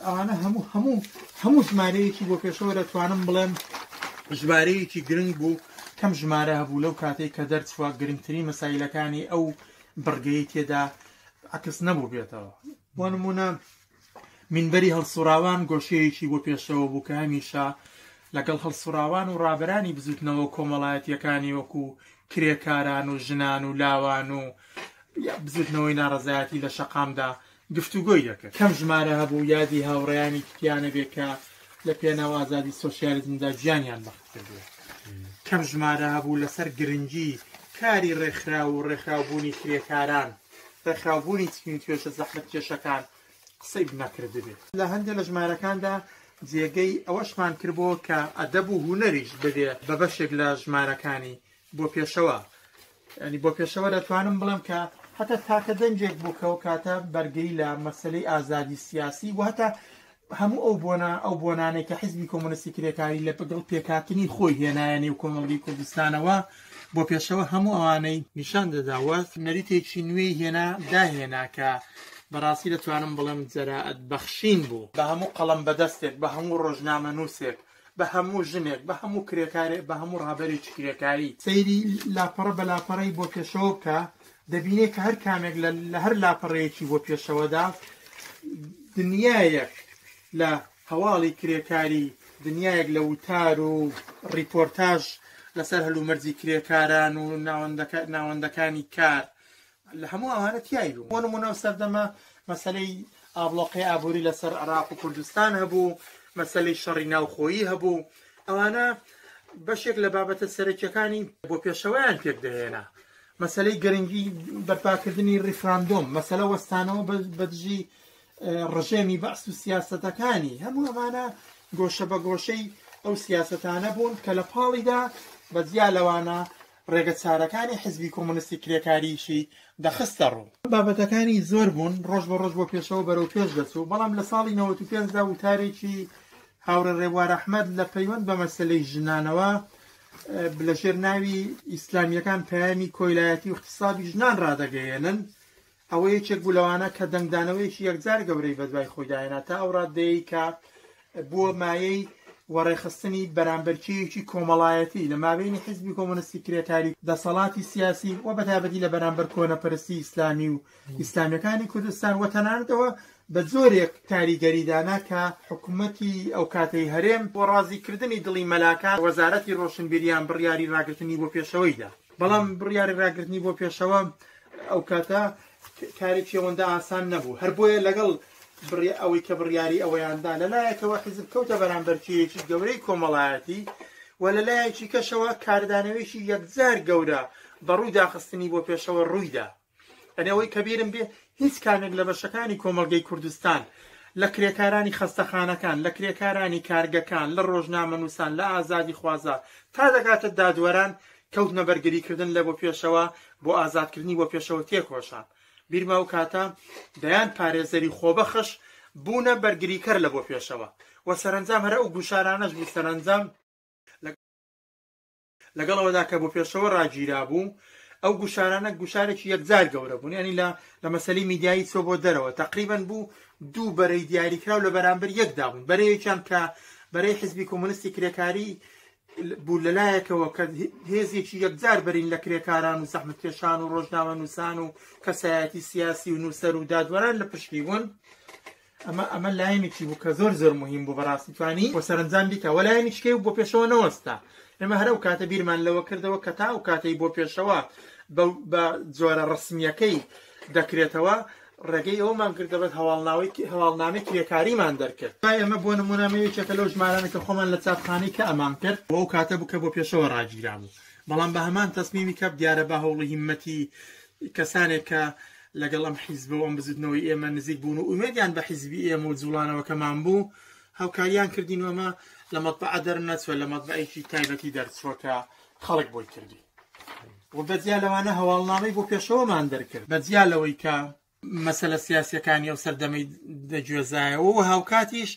ئەوانە هەموو هەموو هەموو ژمارەیەکی بۆ پێشەوە دەتوانم بڵێم ژمارەیەکی گرنگ بوو کەم ژمارە هەبوو لەو کاتێک کە دەرچوە گرنگترین مەسایلەکانی ئەو بڕگەی تێدا عکس نەبوو بێتەوە بۆ نمونە منبەری هەڵسوراوان گۆشەیەکی بۆ پێشەوە بوو کە هەمیشە لەگەڵ هەڵسوراوان و ڕابرانی بزوتنەوە کۆمەڵایەتیەکانی وەکو کرێکاران و ژنان و لاوان و بزوتنەوەی ناڕزایەتی لە شەقامدا گفتوگۆی دەکرد. کەم ژمارە هەبوو یادی هاوڕێیانی تکیانە بێ کە لە پێناو ئازادی سۆشیالیزمدا گیانیان بەخت کردووە. کەم ژمارە هەبوو لەسەر گرنگی کاری ڕێکخراو و ڕێکخراوبوونی کرێکاران، ڕێکخراوبوونی چین و توێژە زەحمەتکێشەکان قسەی نەکردبێ. لە هەندێ لە ژمارەکاندا جێگەی ئەوەشمان کردبۆوە کە ئەدەب و هونەریش ببێ بە بەشێک لە ژمارەکانی بۆ پێشەوە ینی بۆ پێشەوە دەتوانم بڵێم کە هەتا تاکە دەنجێک بوو کەەوە کاتە بەرگری لە مەسلەی ئازادی سیاسی و هەتا هەموو ئەو بۆنا ئەو بۆنانێک کە حزبی کۆمۆنستی کرێکاری لە بەگەڵ پێکاتنی خۆی هێنایە نێو کۆمەڵگی کوردستانەوە بۆ پێشەوە هەموو ئەوانەی نیشان دەداوەت نەریتێکی نوێی هێنا داهێنا کە بەڕاستی دەتوانم بڵێم جەرائەت بەخشین بوو بە هەموو قەڵم بەدەستێک بە هەموو ڕۆژنامە نووسێک بە هەموو ژنێک، بە هەموو کرێکارێک، بە هەموو ڕابەرێکی کرێکاری. سەیری لاپەڕە بە لاپەڕەی بۆ پێشەوە بکە، دەبینێ کە هەر کامێک لە لە هەر لاپەڕەیەکی بۆ پێشەوەدا دنیایەک لە هەواڵی کرێکاری، دنیایەک لە وتار و ڕیپۆرتاژ لەسەر هەلومەرجی کرێکاران و ناوەندەکانی کار لە هەموو ئەوانە تیای بوو بۆ نموونە ئەو سەردەمە مەسەلەی ئابڵۆقەی ئابووری لەسەر عراق و کوردستان هەبوو مەسەلەی شەڕی ناوخۆیی هەبوو ئەوانە بەشێک لە بابەتە سەرەکیەکانی بۆ پێشەوەیان پێک دەهێنا مەسلەی گرنگی بەرپاکردنی ریفراندۆم مەسلە وەستانەوە بەدژی ڕژێمی بەعس و سیاستەکانی هەموو ئەمانە گۆشە بە گۆشەی ئەو سیاستانە بوون کە لە پاڵیدا بەجیا لەوانە ڕێگە چارەکانی حیزبی کۆمۆنیستی کرێکاریی دەخستە ڕوو. بابەتەکانی زۆر بوون، ڕۆژ بە ڕۆژ بۆ پێشەوە بەرەو پێش دەچوو، بەڵام لە ساڵی نەوەت و پێنج دا وتارێکی هاوڕێ ڕێبوار ئەحمەد لە پەیوەند بە مەسەلەی ژنانەوە لە ژێر ناوی ئیسلامییەکان پەیامی کۆیلایەتی و ئیغتیسابی ژنان ڕادەگەیێنن ئەوە یەکێک بوو لەوانە کە دەنگدانەوەیەکی یەکجار گەورەی بەدوای خۆیدا هێنا تا ئەو ڕاددەیەی کە بووە مایەی وەڕێخستنی بەرامبەرکێیەکی کۆمەڵایەتی لە مابینی حزبی کۆمۆنستی کرێکاری دەسەڵاتی سیاسی و بەتابەتی لە بەرامبەر کۆنەپەرستی ئیسلامی و ئیسلامیەکانی کوردستان و تەنانەتەوە بە جۆرێک کاریگەریدانا کە حکوومەتی ئەو کاتەی هەرێم بۆ ڕازیکردنی دڵی مەلاکان وەزارەتی ڕۆشنبیریان بڕیاری ڕاگرتنی بۆ پێشەوەیدا بەڵام بڕیاری ڕاگرتنی بۆ پێشەوە ئەو کاتە کاری پێوەندە ئاسان نەبوو، هەر بۆیە لەگەڵ بڕی ئەوەی کە بڕیاری ئەوەیان دا، لە لایەکەوە حیزب کەوتە بەرامبەر کێیەکی گەورەی کۆمەڵایەتی و لە لایەکی کەشەوە کاردانەوەیەکی یەکجار گەورە بە ڕووی داخستنی بۆ پێشەوە ڕووی دا. ئەنێ ئەوەی کە بیرم بێ هیچ کامێک لە بەشەکانی کۆمەڵگەی کوردستان، لە کرێکارانی خەستەخانەکان، لە کرێکارانی کارگەکان، لە ڕۆژنامەنووسان، لە ئازادیخوازە، تا دەگاتە دادوەران، کەوتمە بەرگریکردن لە بۆ پێشەوە بۆ ئازادکردنی بۆ پێشەوە تێکۆشان بیرمە ئەو کاتە دەیان پارێزەری خۆبەخش بوونە بەرگریکەر لە بۆ پێشەوە و سەرنجام هەرە ئەو گوشارانەش بوو سەرنجام لەگەڵ ئەوەدا کە بۆ پێشەوە ڕاگیرا بوو ئەو گوشارانە گوشارێکی یەکجار گەورە بوون ینی لە لە مەسلی میدیایی چۆ بۆ دەرەوە تقریبان بوو دوو بەرەی دیاریکراو لە بەرامبەر یەکدا بوون بەرەیەکیان کە بەرەی حزبی کۆمونستی کرێکاری بوو لەلایەکەوە کە هێزێکی یەکجار بەرین لە کرێکاران و زەحمەتکێشان و ڕۆژنامە نووسان و کەسایەتی سیاسی و نووسەر و دادوەران لە پشتی بوون ئەمە ئەمە لایەنێکی بوو کە زۆر زۆر مهم بوو بەڕاستی توانی بۆ سەرنجام بیکە وە لایەنیشکەی و بۆ پێشەوە نەوەستا ئێمە هەرە و کاتە بیرمان لەوە کردەوە کە تا و کاتەی بۆ پێشەوە بە جۆرە ڕسمیەکەی دەکرێتەوە ڕێگەی ئەوەمان کرد دەبێت هەواڵناوەی هەواڵنامەی کرێکاریمان دەرکرد تا ئێمە بۆ نمونامە یەکێکە لەو ژمارانە کە خۆمان لە چاپخانەی کە ئەمان کرد بۆ ئەو کاتە بوو کە بۆ پێشەوە ڕاگیرا بوو بەڵام بە هەمان تەسمیمی کەپ دیارە بە هەوڵی هیمەتی کەسانێک کە لەگەڵ ئەم حیزبە و ئەم بزوتنەوەی ئێمە نزیک بوون و ئومێدیان بە حیزبی ئێمە و جوڵانەوەکەمان بوو هاوکاریان کردین وەمە لە مەتبعە دەرنەچوە لە مەتبعێکی تایبەتی دەرچوەکە خەڵک بۆی کردی و بە جیا لەوانە هەواڵنامەی بۆ پێشەوەمان دەرکرد بە جیا لەوەی کە مەسەلە سیاسەکانی ئەو سەردەمەی دەگوێزایەوە و هاوکاتیش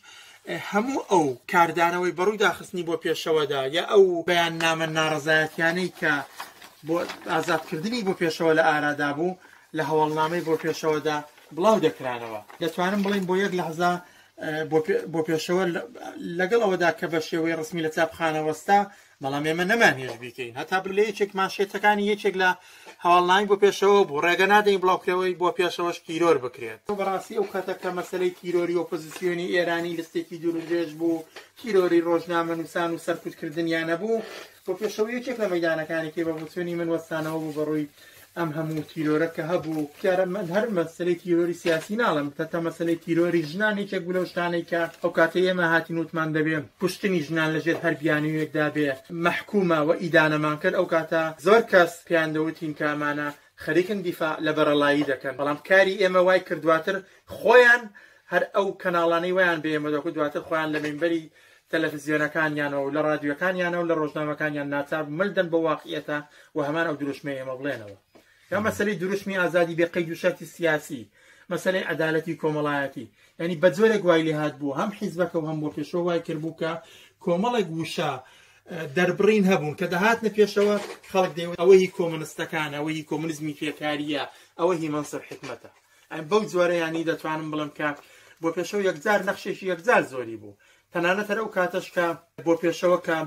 هەموو ئەو کاردانەوەی بەڕووی داخستنی بۆ پێشەوەدا یا ئەو بەیان نامە ناڕزایەتیانەی کە بۆ ئازادکردنی بۆ پێشەوە لە ئارادا بوو لە هەواڵنامەی بۆ پێشەوەدا بڵاو دەکرانەوە دەتوانم بڵین بۆ یەک لەحزا بۆ پێشەوە لەگەڵ ئەوەدا کە بە شێوەی ڕسمی لە چاپخانەوەستا بەڵام ئێمە نەمانهێش بیکەین هەتا بلێ یەکێک مانشێتەکانی یەکێک لە هەواڵناین بۆ پێشەوە بوو ڕێگە نادەین بڵاوکرەوەی بۆ پێشەوەش تیرۆر بکرێت بەڕاستی ئەو کاتە کە مەسلەی تیرۆری ئۆپۆزیسیۆنی ئێرانی لستێکی دوورودرێژ بوو تیرۆری ڕۆژنامە نووسان و سەرکوتکردنیانە بوو بۆ پێشەوە یەکێک لە مەدانەکانی کێ بە بچوونی من وەستانەوە بوو بەڕووی ئەم هەموو تیرۆرە کە هەبوو دیارە من هەر مەسەلەی تیرۆری سیاسی ناڵێم تەتە مەسەلەی تیرۆری ژنان یەکێک بوو لەو شتانەی کە ئەو کاتەی ئێمە هاتین وتمان دەبێ کوشتنی ژنان لەژێر هەر بیانوویەکدا بێ مەحکومە و ئیدانەمان کرد ئەو کاتە زۆر کەس پێیان دەوتین کە ئەمانە خەریکن دیفاع لە بەرەڵایی دەکەن بەڵام کاری ئێمە وای کرد دواتر خۆیان هەر ئەو کەناڵانەی وایان بە ئێمە دەکوت دواتر خۆیان لە مینبەری تەلەفزیۆنەکانیانەوە و لە ڕادیۆکانیانە و لە ڕۆژنامەکانیان ناچار بوو مل دەن بەو واقعیەتە و هەمان ئەو دروشمەی ئێمە بڵێنەوە یا مەسەلەی دروشمی ئازادی بێ قەید و شەرتی سیاسی مەسەلەی عەدالەتی کۆمەڵایەتی یعنی بە جۆرێک وای لێ هات بوو هەم حیزبەکە و هەم بۆ پێشەوە وای کرد بوو کە کۆمەڵێک وشە دەربڕین هەبوون کە دەهاتنە پێشەوە خەڵک دەیەوە ئەوە هی کۆمنستەکان ئەوە هی کۆمنزمی فێکاریە ئەوە هی مەنسەر حکمەتە بەو جۆرە یانی دەتوانم بڵێم کە بۆ پێشەوە یەکجار نەخشێکی یەکجار زۆری بوو تەنانەت هەر ئەو کاتەش کە بۆ پێشەوە کە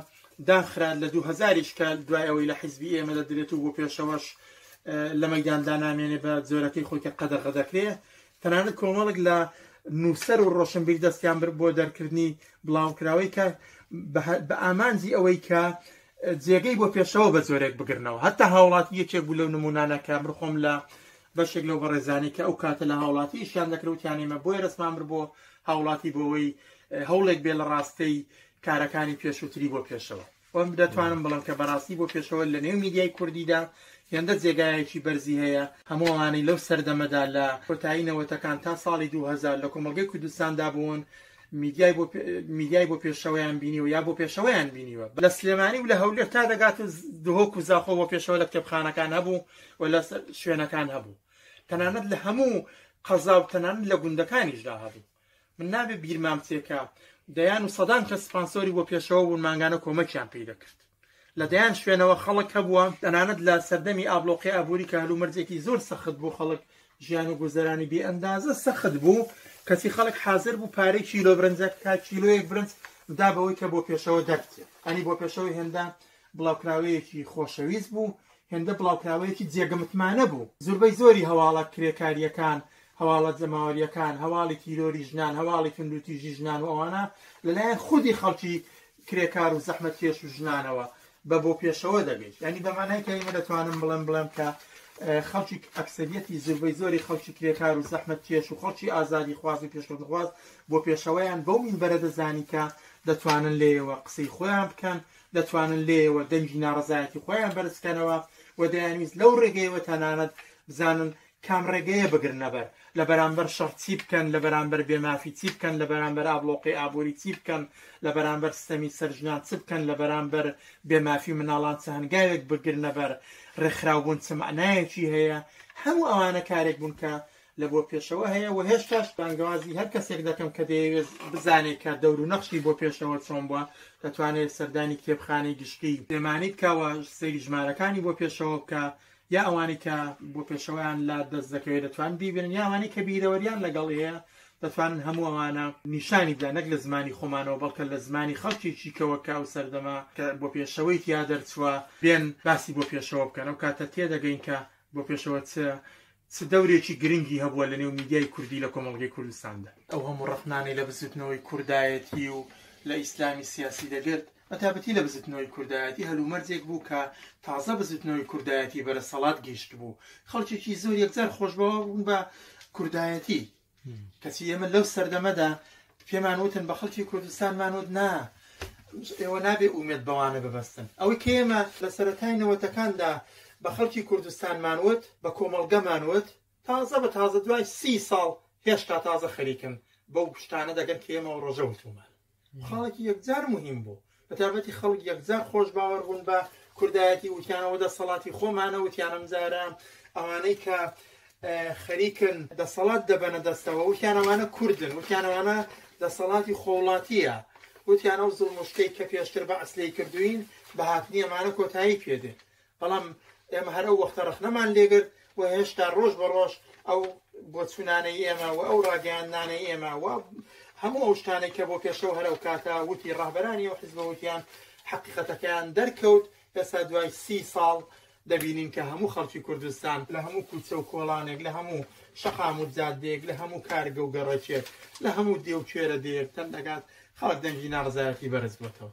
داخرا لە دوو هزاریش کە دوای ئەوەی لە حیزبی ئێمە دەدرێت و بۆ پێشەوەش لە مەداندا نامێنێ بە جۆرەکەی خۆی کە قەدەغە دەکرێ تەنانەت کۆمەڵک لە نووسەر و ڕۆشنبیر دەستیان بر بۆ دەرکردنی بڵاوکراوەی کە بە ئامانجی ئەوەی کە جێگەی بۆ پێشەوە بە جۆرێک بگرنەوە هەتا هاوڵاتی یەکێک بوو لەو نمونانە کە من خۆم لە بەشێک لەو بەڕێزانەی کە ئەو کاتە لە هاوڵاتی ئیشیان دەکرد وتیان ئێمە بۆیە دەستمان برد بۆ هاوڵاتی بۆەوەی هەوڵێک بێ لە ڕاستەی کارەکانی پێشووتری بۆ پێشەوە وەم دەتوانم بڵم کە بەڕاستی بۆ پێشەوە لە نێو میدیای کوردیدا هێندە جێگایەکی بەرزی هەیە هەمووانەی لەو سەردەمەدا لە کۆتایی نەوەتەکان تا ساڵی 2000 لە کۆمەلگەی کوردستاندا بوون میدیای بۆ میدیای بۆ پێشەوەیان بینیوە یا بۆ پێشەوەیان بینیوە لە سلێمانی و لە هەولێر تا دەگات و دهۆک و زاخۆ بۆ پێشەوە لە کتێبخانەکان هەبوو و لە شوێنەکان هەبوو تەنانەت لە هەموو قەزا و تەنان لە گوندەکانیشدا هەبوو من نابێ بیرمام تێکە دەیان و سەدان کە سپانسۆری بۆ پێشەوە بوون مانگانە کۆمەکیان پێی دەکرد لە دەیان شوێنەوە خەڵک هەبووە تەنانەت لە سەردەمی ئابلۆقی ئابووری کە هەلومەرجێکی زۆر سەخت بوو خەڵک ژیان و گوزەرانی بێ ئەندازە سەخت بوو کەسی خەڵک حاضر بوو پارەی کیلۆ برنجە کا کیلۆیەک برنج دا بەوەی کە بۆ پێشەوە دەرچێت ئەنی بۆ پێشەوە هێندا بڵاوکراوەیەکی خۆشەویست بوو هێندە بڵاوکراوەیەکی جێگە متمانە بوو، زوربەی زۆری هەواڵە کرێکارییەکان، هەواڵە جەماوەرییەکان، هەواڵی تیرۆری ژنان، هەواڵی توندوتیژی ژنان و ئەوانە لەلایەن خودی خەڵکی کرێکار و زەحمەتکێش و ژنانەوە بە بۆ پێشەوە دەگەیشت، یانی بە مانای کەلیمە دەتوانم بڵێم بڵێم کە خەڵکی ئەکسەریەتی زوربەی زۆری خەڵکی کرێکار و زەحمەتکێش و خەڵکی ئازادیخواز و پێشکەوتنخواز بۆ پێشەوەیان بەو مینبەرە دەزانی کە دەتوانن لێیەوە قسەی خۆیان بکەن دەتوانن لێیەوە دەنگی ناڕەزایەتی خۆیان بەرز بکەنەوە و دەیانویست لەو ڕێگەیەوە تەنانەت بزانن کام ڕێگەیە بگرنەبەر لە بەرامبەر شەڕ چی بکەن لە بەرامبەر بێمافی چی بکەن لە بەرامبەر ئابلۆقی ئابووری چی بکەن لە بەرامبەر سیستەمی سەر ژنان چ بکەن لە بەرامبەر بێمافی مناڵان چ هەنگاوێک بگرنەبەر ڕێکخراوبوون چ مەعنایەکی هەیە هەموو ئەوانە کارێک بوون کە لە بۆ پێشەوە هەیە و هێشتاش بانگەوازی هەر کەسێک دەکەم کە دەیەوێت بزانێت کە دەور و نەخشی بۆ پێشەوە چۆن بووە دەتوانێت سەردانی کتێبخانەی گشتی سلێمانی بکەوە سەیری ژمارەکانی بۆ پێشەوە بکە یا ئەوانەی کە بۆ پێشەوەیان لا دەست دەکەوێت دەتوان بیبێن یا ئەوانەی کە بیرەوەریان لەگەڵ هەیە دەتوانن هەموو ئەوانە نیشانی بدەن نەک لە زمانی خۆمانەوە بەڵکە لە زمانی خەڵکیی کەوە کە ئەو سەردەما کە بۆ پێشەوەی تیا دەرچووە بێن باسی بۆ پێشەوە بکەن ئەو کاتە تێدەگەین کە بۆ پێشەوە چ چ دەورێکی گرنگی هەبووە لە نێو میدیای کوردی لە کۆمەڵگەی کوردستاندا؟ ئەو هەموو ڕەخنانەی لە بزووتنەوەی کوردایەتی و لە ئیسلامی سیاسی دەگرت، بەتابەتی لە بزووتنەوەی کوردایەتی، هەلومەرجێک بوو کە تازە بزووتنەوەی کوردایەتی بەرەسەڵات گەیشتبوو، خەڵکێکی زۆر یەکجار خۆشبەوە بوون بە کوردایەتی، کەچی ئێمە لەو سەردەمەدا پێمان وتن بە خەڵکی کوردستانمان وت نا ئێوە نابێ ئومێت بەوانە ببەستن ئەوەی کە ئێمە لە سەرەتای نەوەتەکاندا بە خەڵکی کوردستانمان وت بە کۆمەڵگەمان وت تازە بە تازە دوای سی ساڵ هێشتا تازە خەریکن بەو شتانە دەگەن کە ئێمە ڕۆژە وتومان خەڵک یەکجار مهم بوو بەتابەتی خەڵک یەکجار خۆش باوەڕ بوون بە کوردایەتی وتیانەوە دەسەڵاتی خۆمانە وتیانم جارە ئەوانەی کە خەریکن دەسەڵات دەبەنە دەستەوە وتیانەوانە کوردن وتیانەوانە دەسەڵاتی خۆڵاتیە وتیانە و زڵمشتەی کە پێشتر بە ئەسلی کردوین بە هاتنی ئەمانە کۆتایی پێدێت بەڵام ئێمە هەر ئەو وەختە ڕەخنەمان لێگرت و هێشتا ڕۆژ بە ڕۆژ ئەو بۆچوونانەی ئێمە و ئەو ڕاگەیاندنانەی ئێمە و هەموو ئەو شتانەی کە بۆ پێشەوە هەر ئەو کاتە وتی ڕاهبەرانی و حزبە وتیان حقیقەتەکەیان دەرکەوت ئێستا دوای سی ساڵ دەبینین کە هەموو خەڵکی کوردستان لە هەموو کوچە و کۆڵانێک لە هەموو شەقام و جادێک لە هەموو کارگە و گەڕەکێک لە هەموو دێوکێرە دێک تەندەکات خەڵک دەنگی ناڕزایەتی بەرز بووتەوە